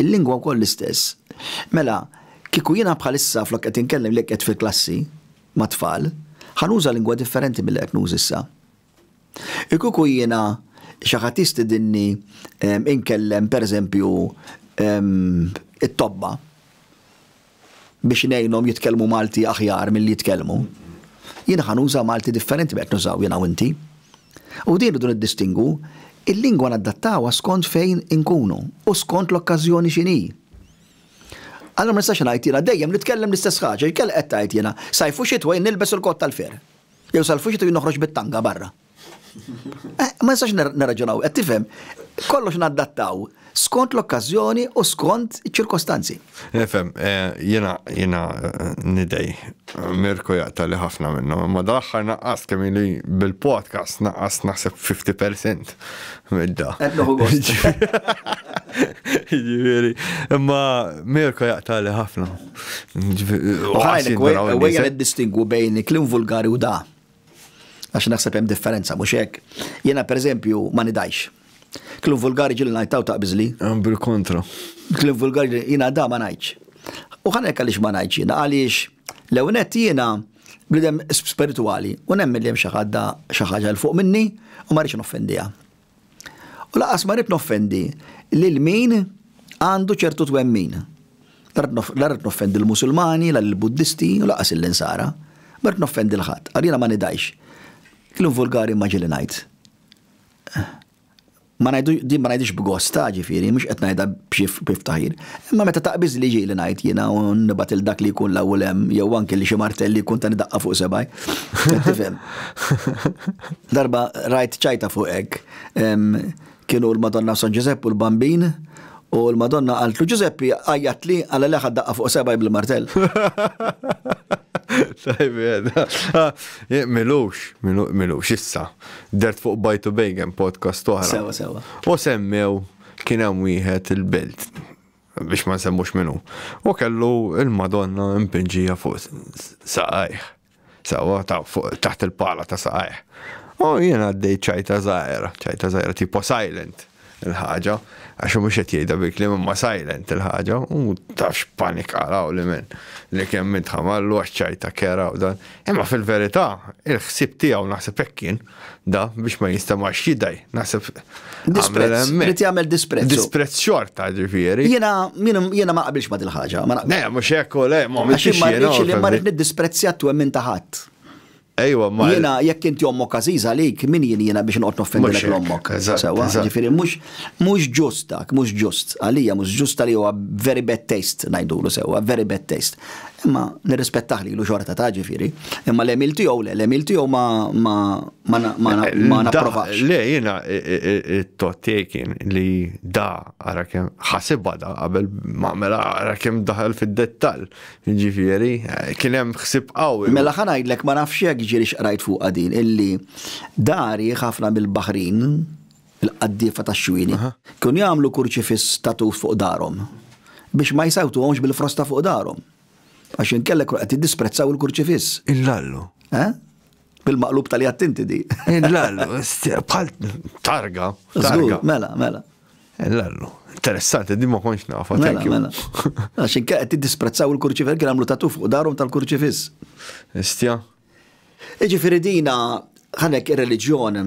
Il-lingwa wkoll l-istess. Mela, kieku jiena bħalissa flok qed inkellem lejk qed fil-klassi mat-tfal, ħa nuża lingwa differenti milli qed nuża issa. Kieku jiena xi ħadd jistidinni inkellem pereżempju it-tobba biex ngħinhom jitkellmu Malti aħjar milli jitkellmu, jiena ħa nuża Malti differenti minn qed nużaw jiena u inti. U din irridu niddistingu, il-lingwa naddattawha skont fejn inkunu u skont l-okkażjoni x'inhi. Allura ma nistax ngħid jiena dejjem nitkellem l-istess ħaġa, il-kelb qed tgħid jiena, sajf u xitwa jien nilbes il-kott tal-fer. Jew sal-fuxet u jien noħroġ bit-tanga barra. Ma nistax nirraġunaw, qed tifhem? Kollox naddattaw skont l-okkażjoni u skont iċ-ċirkostanzi. Nifhem, eh, jiena jiena eh, nidej Mirko jaqta' li ħafna minnhom, imma dal-aħħar naqqas kemm li bil-podcast naqqas naħseb 50% midda. Qed noħu gost. Ġifieri, imma Mirko jaqta' li ħafna. Għajlek, għajja id-distingu bejn klim vulgari u da. Għax naħseb hemm differenza, mhux hekk. Jiena pereżempju ma nidajx. Klim vulgari ġil ngħidtaw ta' biżli. Bil-kontra. Klim vulgari jiena da ma ngħidx. U ħanek għaliex ma ngħidx jiena għaliex l-ewnet jiena bnidem spirituali u nemmen li hemm xi ħadda xi ħaġa l fuq minni u ma rridx noffendiha. U laqas ma rrid noffendi lil min għandu ċertu twemmin. La rrid noffendi l-Musulmani, la l-Buddisti, u laqas l-Insara. Ma rrid noffendi l-ħadd, għal jiena ma nidajx. Klum vulgari ma ġili ngħid. Ma ngħidu, din ma ngħidix b'gosta, ġifieri, mhux qed ngħidha b'xi b'ftaħir. Imma meta taqbiż li ġieli ngħid jiena u nibgħat lil dak li jkun l-hawn u l-hemm jew anki li xi martell li jkun tani daqqa fuq sebgħi. Qed tifhem? Darba rajt ċajta fuq hekk. Kienu l-Madonna u San Ġużepp u l-Bambin u l-Madonna qaltlu, Ġużeppi, għajjatli għala li ħadd daqqa fuq sebgħi bil-martell. Tajjeb, milux, milux issa. Dert fuq Bajtu Bejgem, podcast oħra. Sewwa, sewwa. U semmew. Kien hemm wieħed il-Belt, biex ma nsemmux min hu, u kellu l-Madonna mpinġija fuq saqajh, sewwa taħt il-pala ta' saqajh. U jien għaddejt ċajta żgħira, ċajta żgħira tipo silent il-ħaġa, għax hu mhux qed jgħidha bil-kliem imma silent il-ħaġa, u tafx panik araw li minn li kemm intħamallu għax ċajta kera u dan. Imma fil-verità, il-ħsieb tiegħu naħseb hekk kien. da biex ma jistamax jidaj, naħseb. Disprezz, rrit jgħamil disprezz. Disprezz xorta ġifiri. Jena, jena ma qabilx ma dil-ħagġa. Ne, mux ekku, le, ma mux jena. Għaxin li marrit nid-disprezzja tu emmin taħat. Ejwa, ma. Jena, jekk inti ommok għaziz għalik, min jien jena biex nqot noffendi l ommok. Sewa, ġifiri, mux, mux ġustak, mux ġust. Għalija, mux ġust għalija, very bad taste, najdulu sewa, very bad taste. Imma nirrispettah lilu xorta ta' ġifieri, imma l-għemil tiegħu le, l-għemil tiegħu ma ma ma na- ma na- ma napprovax. Le, jena, it-tot tiegħi kien li da, ara kem, ħasibha da qabel, ma mela ara kem daħal fid-dettall. Ġifieri, eh, kien hemm ħsib qawwi. Mela ħa ngħidlek ma nafx jekk ġieli x'qrajt fuqha din illi dari ħafna mill-Baħrin il-qaddiefa tax-xwieli, kienu jagħmlu kurċifiss ta' tuf fuq darhom biex ma jsawtuhomx bil-frosta fuq darhom, għax inkella jkunu qed jiddisprezzaw il-kurċifiss. Il-lallu. Eh? Bil-maqlub tal-jatt inti di. Il-lallu, bħal targa. Żgur, mela, mela. Il-lallu. Interessanti, di ma konx nafa. Mela, mela. Għax inkella qed jiddisprezzaw il-kurċifiss, kien għamlu ta' tuf fuq darhom tal-kurċifiss. Istja. Jiġifieri dina, hawnhekk ir-reliġjon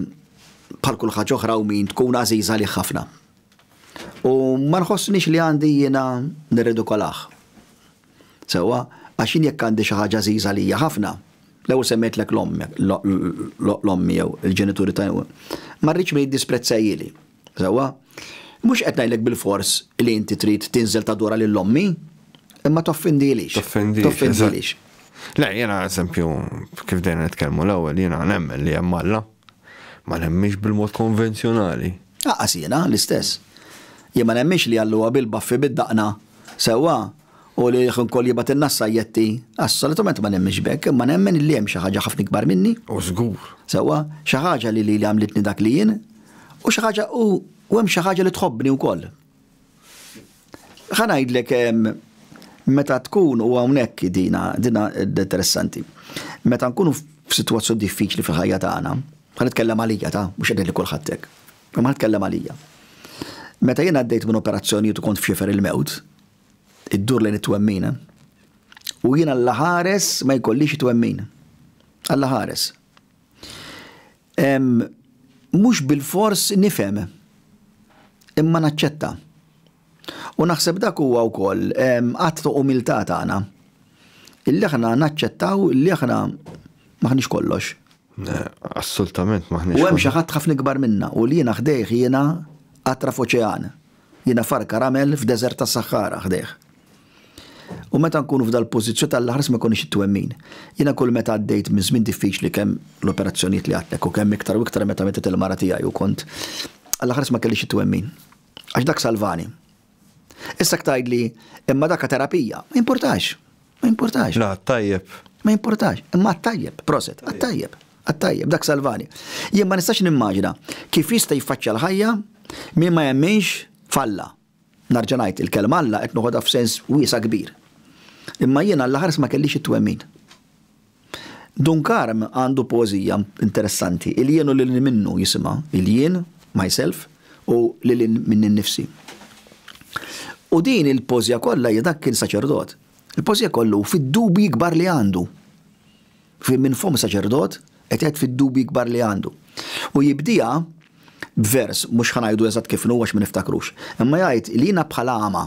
bħal kull ħaġa oħra u min tkun għażiża għalih ħafna. U ma nħossnix li għandi jiena nirridikolah. Sewwa, għax jien jekk għandi xi ħaġa għażiża għalija ħafna, l-ewwel semmejtlek l-ommi jew il-ġenituri ta' ma rridx min jiddisprezzajhieli. Sewwa? Mhux qed ngħidlek bilfors li inti trid tinżel tadora lil ommi, imma toffindilix. Toffindix. Toffindilix. Le, jiena eżempju, kif dejjem nitkellmu l-ewwel, jiena nemmen li hemm Alla, ma nemminx bil-mod konvenzjonali. Aqas jiena l-istess. Jien ma nemminx li Alla huwa bil-baffi bid-daqna, sewwa, u li ħinkoll jibgħatilna s-sajjetti, assolutament ma nemminx b'hekk, imma nemmen li hemm xi ħaġa ħafna ikbar minni. U żgur. Sewwa, xi ħaġa li lili għamlitni dak li jien, U xi ħaġa u hemm xi ħaġa li tħobbni wkoll. Ħa ngħidlek meta tkun u hawnhekk dina dina interessanti. Meta nkunu f'sitwazzjoni diffiċli fil-ħajja tagħna, ħa nitkellem għalija ta' mhux qed li kulħadd hekk. Imma nitkellem għalija. Meta jien għaddejt minn operazzjonijiet u kont f'xifer il-mewt, id-dur lejn it-twemmina, u jien għalla ħares ma jkollix it-twemmin. Għalla ħares. Mhux bilfors nifhem, imma naċċetta. U naħseb dak huwa wkoll att ta' umiltà tagħna, illi aħna naċċettaw li aħna m'aħniex kollox. Assolutament m'aħniex. U hemm xi ħadd ħafna ikbar minna, u li jiena ħdejh jiena qatra f'oċean. Jiena farka ramel f'deżert tas-Saħħara ħdejh. U meta nkunu f'dal-pożizzjoni tal-aħħar ma jkollniex it-twemmin. Jiena kull meta għaddejt minn żmien diffiċli kemm l-operazzjonijiet li għadtlek u kemm iktar u iktar meta mietet il-mara tiegħi u kont għall-aħħar ma kellix it-twemmin. Għax dak salvani. Issa tgħidli, imma dak terapija. Ma jimpurtax. Ma jimpurtax. La, tajjeb. Ma jimpurtax. Imma tajjeb, proset, tajjeb. Tajjeb, dak salvani. Jien ma nistax nimmaġina kif jista' jiffaċċja l-ħajja min ma jemminx falla. Nerġa' ngħid, il-kelma Alla qed noħodha f'sens wiesa' kbir. Imma jiena l-aħħar ma kellix it-twemmin. Dun Karm għandu poeżija interessanti, Il jien u lil hinn minnu jisimha, il jien, myself, u lil hinn minni nnifsi. U din il-poeżija kollha hija dak kien saċerdot. Il-poeżija kollu hu fid-dubji kbar li għandu. Fi minn fomm saċerdot qed jgħid fid-dubji kbar li għandu. U jibdieha b'vers, mhux ħa ngħidu eżatt kif inhu għax ma niftakrux, imma jgħid li jiena bħal għama,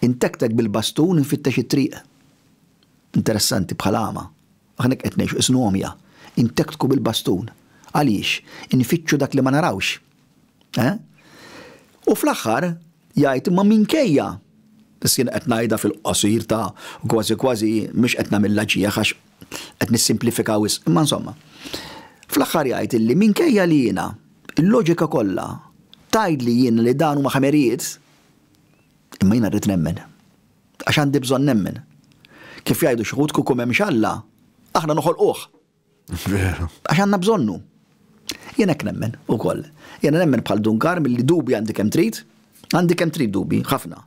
intektek bil-bastun infittex it-triq. Interessanti, bħal għama. Aħna hekk qed ngħixu, qisnu għomja. Intektku bil-bastun. Għaliex? Infittxu dak li ma narawx. Eh? U fl-aħħar jgħid imma minkejja Sin qed ngħidha fil-qosir ta' kważi kważi mhux qed nagħmilha ġieħ għax qed nissimplifika wis, imma insomma. Fl-aħħar jgħid illi minkejja li jiena il-loġika kollha tajd li jien li dan huma ħamerijiet, imma jiena rrid nemmen. Għax għandi bżonn nemmen. Kif jgħidu xħut kukum hemm xalla, aħna noħolquh. Veru. Għax għandna bżonnu. Jien hekk nemmen ukoll. Jiena nemmen bħal Dun Karm li dubi għandi kemm trid, għandi kemm trid dubi, ħafna.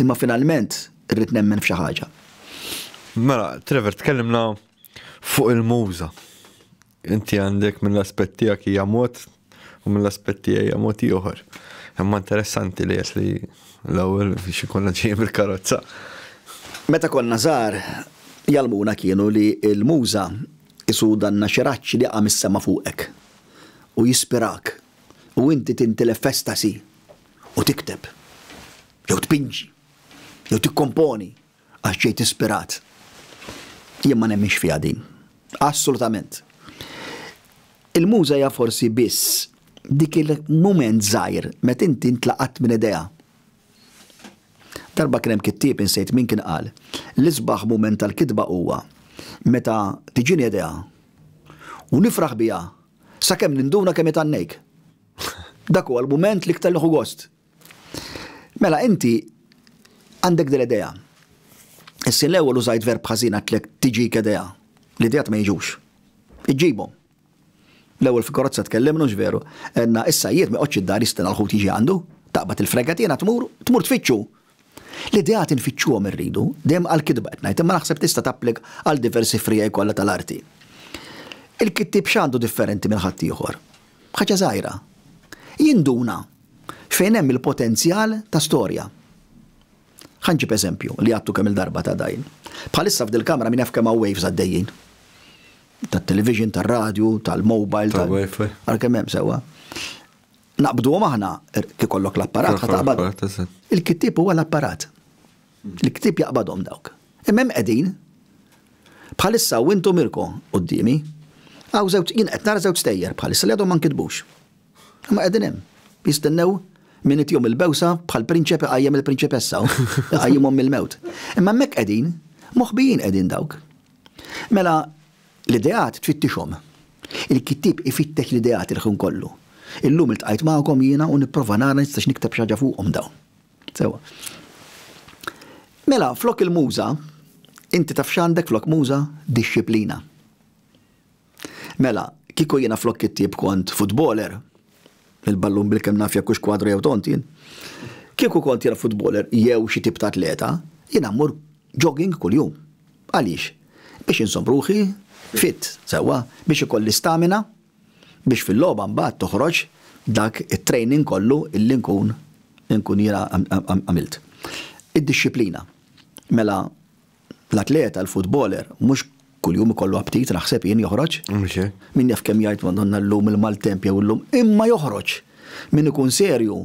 Imma finalment irrid nemmen f'xi ħaġa. Mela, Trevor, tkellimna fuq il-muża. Inti għandek mill-aspett tiegħek hija mod u mill-aspett tiegħi hija mod ieħor. Imma interessanti li jes li l-ewwel xi konna ġejjem il-karozza. Meta konna żgħar, jgħallmuna kienu li l-Muża isu danna xi raġġ li jaqa' mis-sema fuqek u jispirak u inti tintilef f'estasi u tikteb jew tpinġi jew tikkomponi Għax ġejt ispirat. Jien ma nemminx fiha din. Assolutament. Il-Muża hija forsi biss dik il-mument żgħir meta inti ntlaqatt minn idejha. Darba kien hemm kittieb insejt min kien qal, l-isbaħ mument tal-kitba huwa meta tiġini idea u nifraħ biha sakemm ninduna kemm hi tgħannejk. Dak huwa l-mument l-iktar nieħu gost. Mela inti għandek din l-idea. Issi l-ewwel użajt verb ħażin għatlek tiġik idea. L-ideat ma jiġux. Iġġibhom. L-ewwel fi karozza tkellimna hux veru? Għedna issa jiet ma joqgħodx id-dar jistenna l-ħut jiġi għandu, taqbad il-fregatina tmur, tmur tfittxu. L-ideat infittxuhom irridu, dejjem għall-kitba qed ngħid, imma naħseb tista' tapplika għal diversi friegħi kollha tal-arti. Il-kittieb x'għandu differenti minn ħaddieħor? Ħaġa żgħira. Jinduna Fejn hemm il-potenzjal ta' storja. Ħa nġib eżempju, li għadtu kemm-il darba ta' dajn. Bħalissa f'dil-kamra min jaf kemm hawn waves għaddejjin. Tat-television, tar-radju, tal-mobile, tal. Tal-wifi. Ara kemm hemm sewwa. Naqbduhom aħna, kif ikollok l-apparat, ħa taqbad. Il-kittieb huwa l-apparat. Il-ktieb jaqbadhom dawk. Imma hemm qegħdin. Bħalissa u intom irko' quddiemi. Hawn żewġ, jien qed nara żewġ stejjer bħalissa li għadhom ma nkitbux. Imma qegħdin hemm. Jistennew min itihom il-bewsa bħal prinċep iqajjem il-prinċipessa u iqajjimhom mill-mewt. Imma hemmhekk qegħdin. Moħbijin qegħdin dawk. Mela, l-ideat tfittixhom. Il-kittieb ifittex l-ideat il-ħin kollu. Illum iltqajt magħkom jiena u nipprova nara nistax nikteb xi ħaġa fuqhom dawn. Sewwa. Mela, flok il-muża, inti taf x'għandek flok muża? Dixxiplina. Mela, kieku jiena flok kittieb kont futboler, il-ballun bil-kemm naf jekk hux kwadru jew tont jien, kieku kont jiena futboler jew xi tip ta' atleta, jiena mmur jogging kuljum. Għaliex? Biex inżomm ruħi fit, sewwa, biex ikolli stamina, biex fil-logħba mbagħad toħroġ dak it-training kollu illi nkun nkun jiena għamilt. Id-dixxiplina. Mela l-atleta, l-futboler, mhux kuljum ikollu aptit naħseb jien joħroġ. Min jaf kemm jgħid Madonna llum il-maltemp jew illum, imma joħroġ. Min ikun serju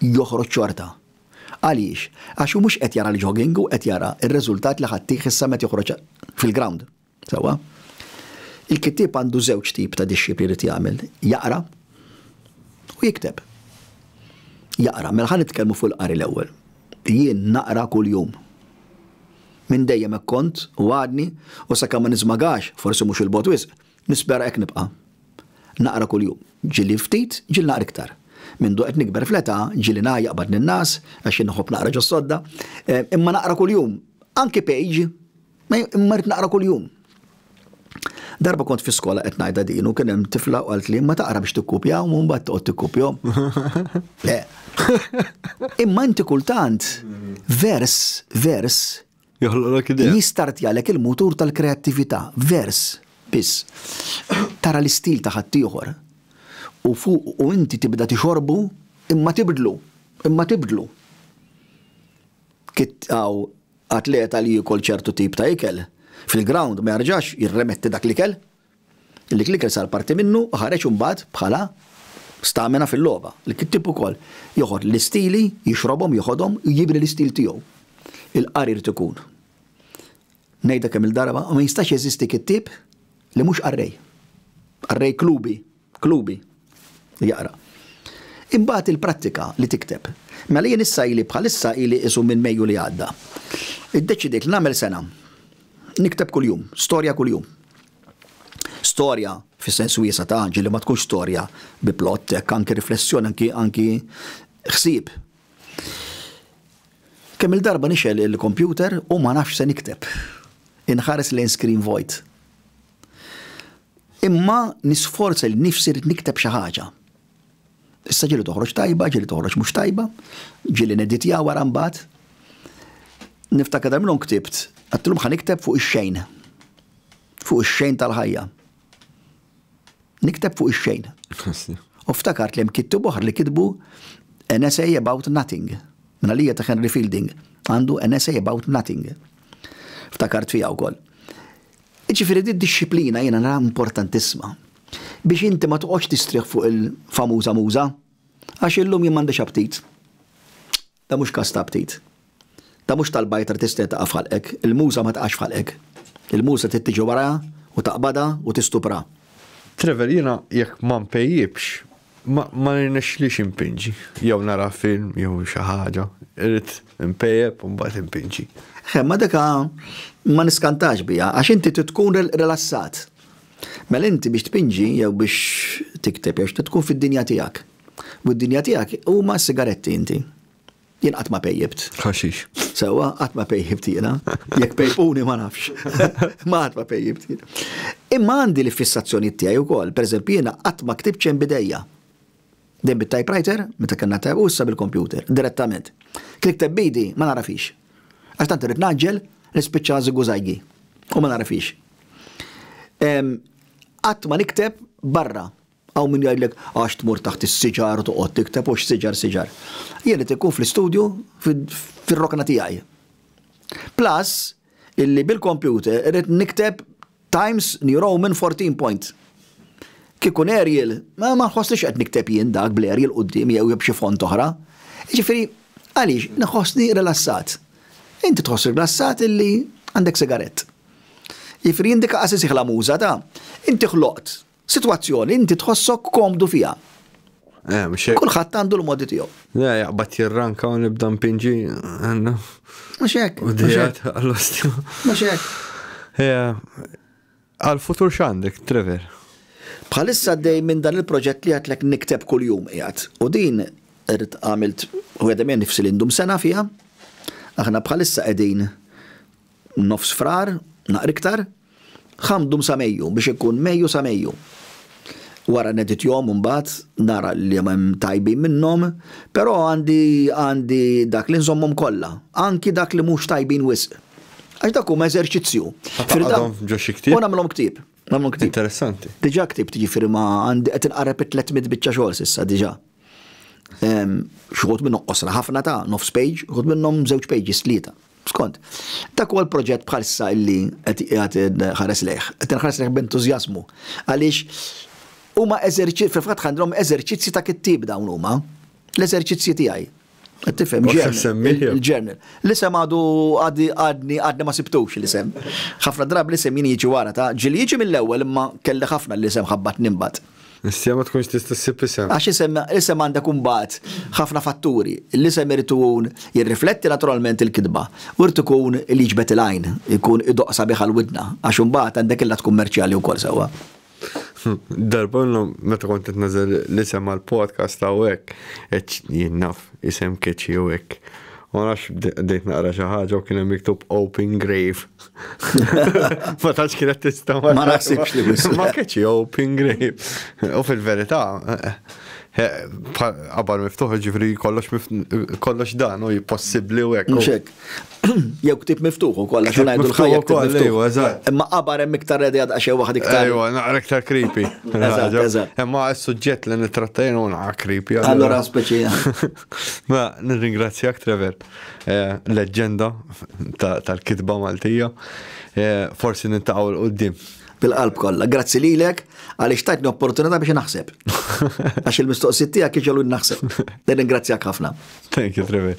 joħroġ xorta. Għaliex? Għax hu mhux qed jara l-jogging, hu qed jara r-riżultat li ħadd tih issa meta joħroġ fil-ground. Sewwa? Il-kittieb għandu żewġ tip ta' dixxipli jrid jagħmel, jaqra u jikteb. Jaqra, mela ħa nitkellmu fuq il-qari l-ewwel. Jien naqra kuljum. Minn dejjem hekk kont u għadni u sakemm ma niżmagax, forsi mhux 'il bogħod wisq, nispera hekk nibqa'. Naqra kuljum. Ġieli ftit, ġieli naqra iktar. Mindu qed nikber fl-età, ġieli ngħajjaq b'għadni n-nas, għax jien inħobb naqra ġos-sodda, imma naqra kuljum. Anki page. Ma imma rrid naqra kuljum. Darba kont fi skola qed ngħidha din u kien hemm tifla u qalt li ma taqra biex tikkupja u mbagħad toqgħod tikkupjhom. Le. Imma inti kultant vers, vers joħloqlok idea. Jistartjalek il-mutur tal-kreattività, vers biss. Tara l-istil ta' ħaddieħor u fuq u inti tibda tixorbu imma tibdlu, imma tibdlu. Kitqgħu Atleta li jiekol ċertu tip ta' ikel, fil-grawnd ma jerġax jirremetti dak l-ikel. Dik l-ikel sar parti minnu u ħareġ imbagħad bħala stamina fil-logħba. L-kittib ukoll joħod l-istili, jixrobhom, joħodhom u jibni l-istil tiegħu. Il-qari jrid ikun. Ngħidha kemm-il darba, ma jistax jeżisti kittib li mhux qarrej. Qarrej klubi. klubi li jaqra. Imbagħad il-prattika li tikteb. Mela jien issa ili bħalissa ili qisu minn Mejju li għadda. Iddeċidejt li nagħmel sena. Nikteb kuljum, storja kuljum. Storja fis-sens wiesa' ta', ġieli ma tkunx storja bi plott, hekk anki riflessjoni, anki anki ħsieb. Kemm il-darba nixgħel il-kompjuter u ma nafx se nikteb. Inħares lejn screen void. Imma nisforza lil nifsi rrid nikteb xi ħaġa. Issa ġieli toħroġ tajba, ġieli toħroġ mhux tajba, ġieli neditja wara mbagħad. Niftakar dar minnhom ktibt, għattilhom ħa nikteb fuq ix-xejn. Fuq ix-xejn tal-ħajja. Nikteb fuq ix-xejn. U ftakart li hemm kittib oħra li kitbu an essay about nothing. Minna lija ta' Henry Fielding għandu an essay about nothing. Ftakart fija wkoll. Jiġifieri din id-dixxiplina jiena naraha importantissima biex inti ma toqgħodx tistrieħ fuq il-famuża muża, għax illum jien m'għandix aptit. Dan mhux każ ta' aptit. Dan mhux tal-bajta li tistrieħ taqa' f'ħalqek. Il-muża ma taqax f'ħalqek. Il-muża trid tiġi warajha u taqbadha u tistupraha. Trevor, jiena jekk ma npejjipx, Ma jirnexxilix inpinġi, jew nara film jew xi ħaġa. Irrid inpejjep u mbagħad inpinġi. Eħe, imma dik ma niskantax biha, għax inti trid tkun rilassat. Mela inti biex tpinġi jew biex tikteb jew xi trid tkun fid-dinja tiegħek. U d-dinja tiegħek huma s-sigaretti inti. Jien qatt ma pejjibt. Ħaxix. Sewwa, qatt ma pejjibt jiena. Jekk pejpuni ma nafx. Ma qatt ma pejjibt jien. Imma għandi l-fissazzjonijiet tiegħi wkoll. Pereżempju jiena qatt ma ktibt xejn b'idejja. Dejjem bit-typewriter, meta kellna type, u issa bil-kompjuter, direttament. Kien ikteb b'idi, ma nara fiex. Għax tant irrid ngħaġġel, nispiċċa żigużajgi. U ma nara fiex. Qatt ma nikteb barra. Hawn min jgħidlek għax tmur taħt is-siġar u toqgħod tikteb u x'siġar siġar. Jien irid inkun fl-istudju fir-rokna tiegħi. Plus illi bil-computer irrid nikteb Times New Roman 14 point. Kieku ikun Arial, ma nħossniex qed nikteb jien dak bl-Arial quddiem jew b'xi font oħra. Jiġifieri, għaliex, nħossni rilassat. Inti tħoss rilassat illi għandek sigarett. Jiġifieri jindika qasisih la muża ta' inti ħloqt Sitwazzjoni li inti tħossok komdu fiha. Eh, mhux hekk. Kulħadd għandu l-modi tiegħu. Le, jaqbad jirranka u nibda mpinġi. Mhux hekk. U dijat għall-ostju. Mhux hekk. Għal-futur x'għandek, Trevor? Bħalissa dej minn dan il-proġett li għatlek nikteb kull-jum jgħat. U din rrit għamilt u għedem jen nifsi l-indum sena fija. Aħna bħalissa għedin Nofs Frar, naqra iktar, ħammdum sa Mejju biex ikun Mejju sa Mejju. Wara neditjhom imbagħad nara liema hemm tajbin minnhom, però għandi għandi dak li nżommhom kollha, anki dak li mhux tajbin wisq. Għax dak huma eżerċizzju. Ħa taqgħadhom ġo xi ktieb? U nagħmilhom ktieb. Għamlu ktib. Interessanti. Diġa ktib tiġifiri ma għandi għet nqarreb 300 bicċa xogħol sissa diġa. Xħut minnom qosra ħafna ta' nofs page, xħut minnom zewċ pages tlieta. Skont, dak huwa l-proġett bħalissa illi qed qiegħed ħares lejh, qed nħares lejh b'entużjażmu. Għaliex huma eżerċizzi, fil-fatt għandhom eżerċizzi ta' kittib dawn huma, l-eżerċizzi tiegħi. Tifhem, il-ġermen. L-isem għadu għadni għadni ma sibtux l-isem. ħafna drabi l-isem jien jiġi wara ta' ġili jiġi mill-ewwel imma kelli ħafna l-isem ħabbat nimbat. Issa ma tkunx tista' ssib isem. Għax isem isem għandha kumbat ħafna fatturi. L-isem irid ikun jirrifletti naturalment il-kitba u irid ikun li jiġbed il-għajn, ikun idoqsa biħa l-widna għax imbagħad għandek illa tkun merċjali wkoll sewwa. Darba l-lum, meta kont qed nażel l-isem għal podcast ta' hekk, qed jien naf isem keċi u hekk. Ma nafx bdejt naqra xi ħaġa u kien hemm miktub Open Grave. Ma tantx kienet tista' ma naħsibx li biss. Ma keċi Open Grave. U fil-verità, qabar miftuħ ġifri kollox dan u possibbli u hekk. Jew ktib miftuħ ukoll għax ngħidu l-ħajja ktib miftuħ. Imma qabar hemm iktar redi għad xejn waħed iktar. Ejwa, naqra iktar creepy. Imma s-suġġett li nitrattajn u naqra creepy. Allora speċi. Ma nirringrazzjak Trevor, eh, leġġenda tal-kitba Maltija. Eh, forsi nintaqgħu l-qudiem bil-qalb kollha. Grazzi lilek għaliex tajtni opportunità biex naħseb. Għax il-mistoqsijiet tiegħek kienu naħseb. Nirringrazzjak ħafna. Thank you, Trevor.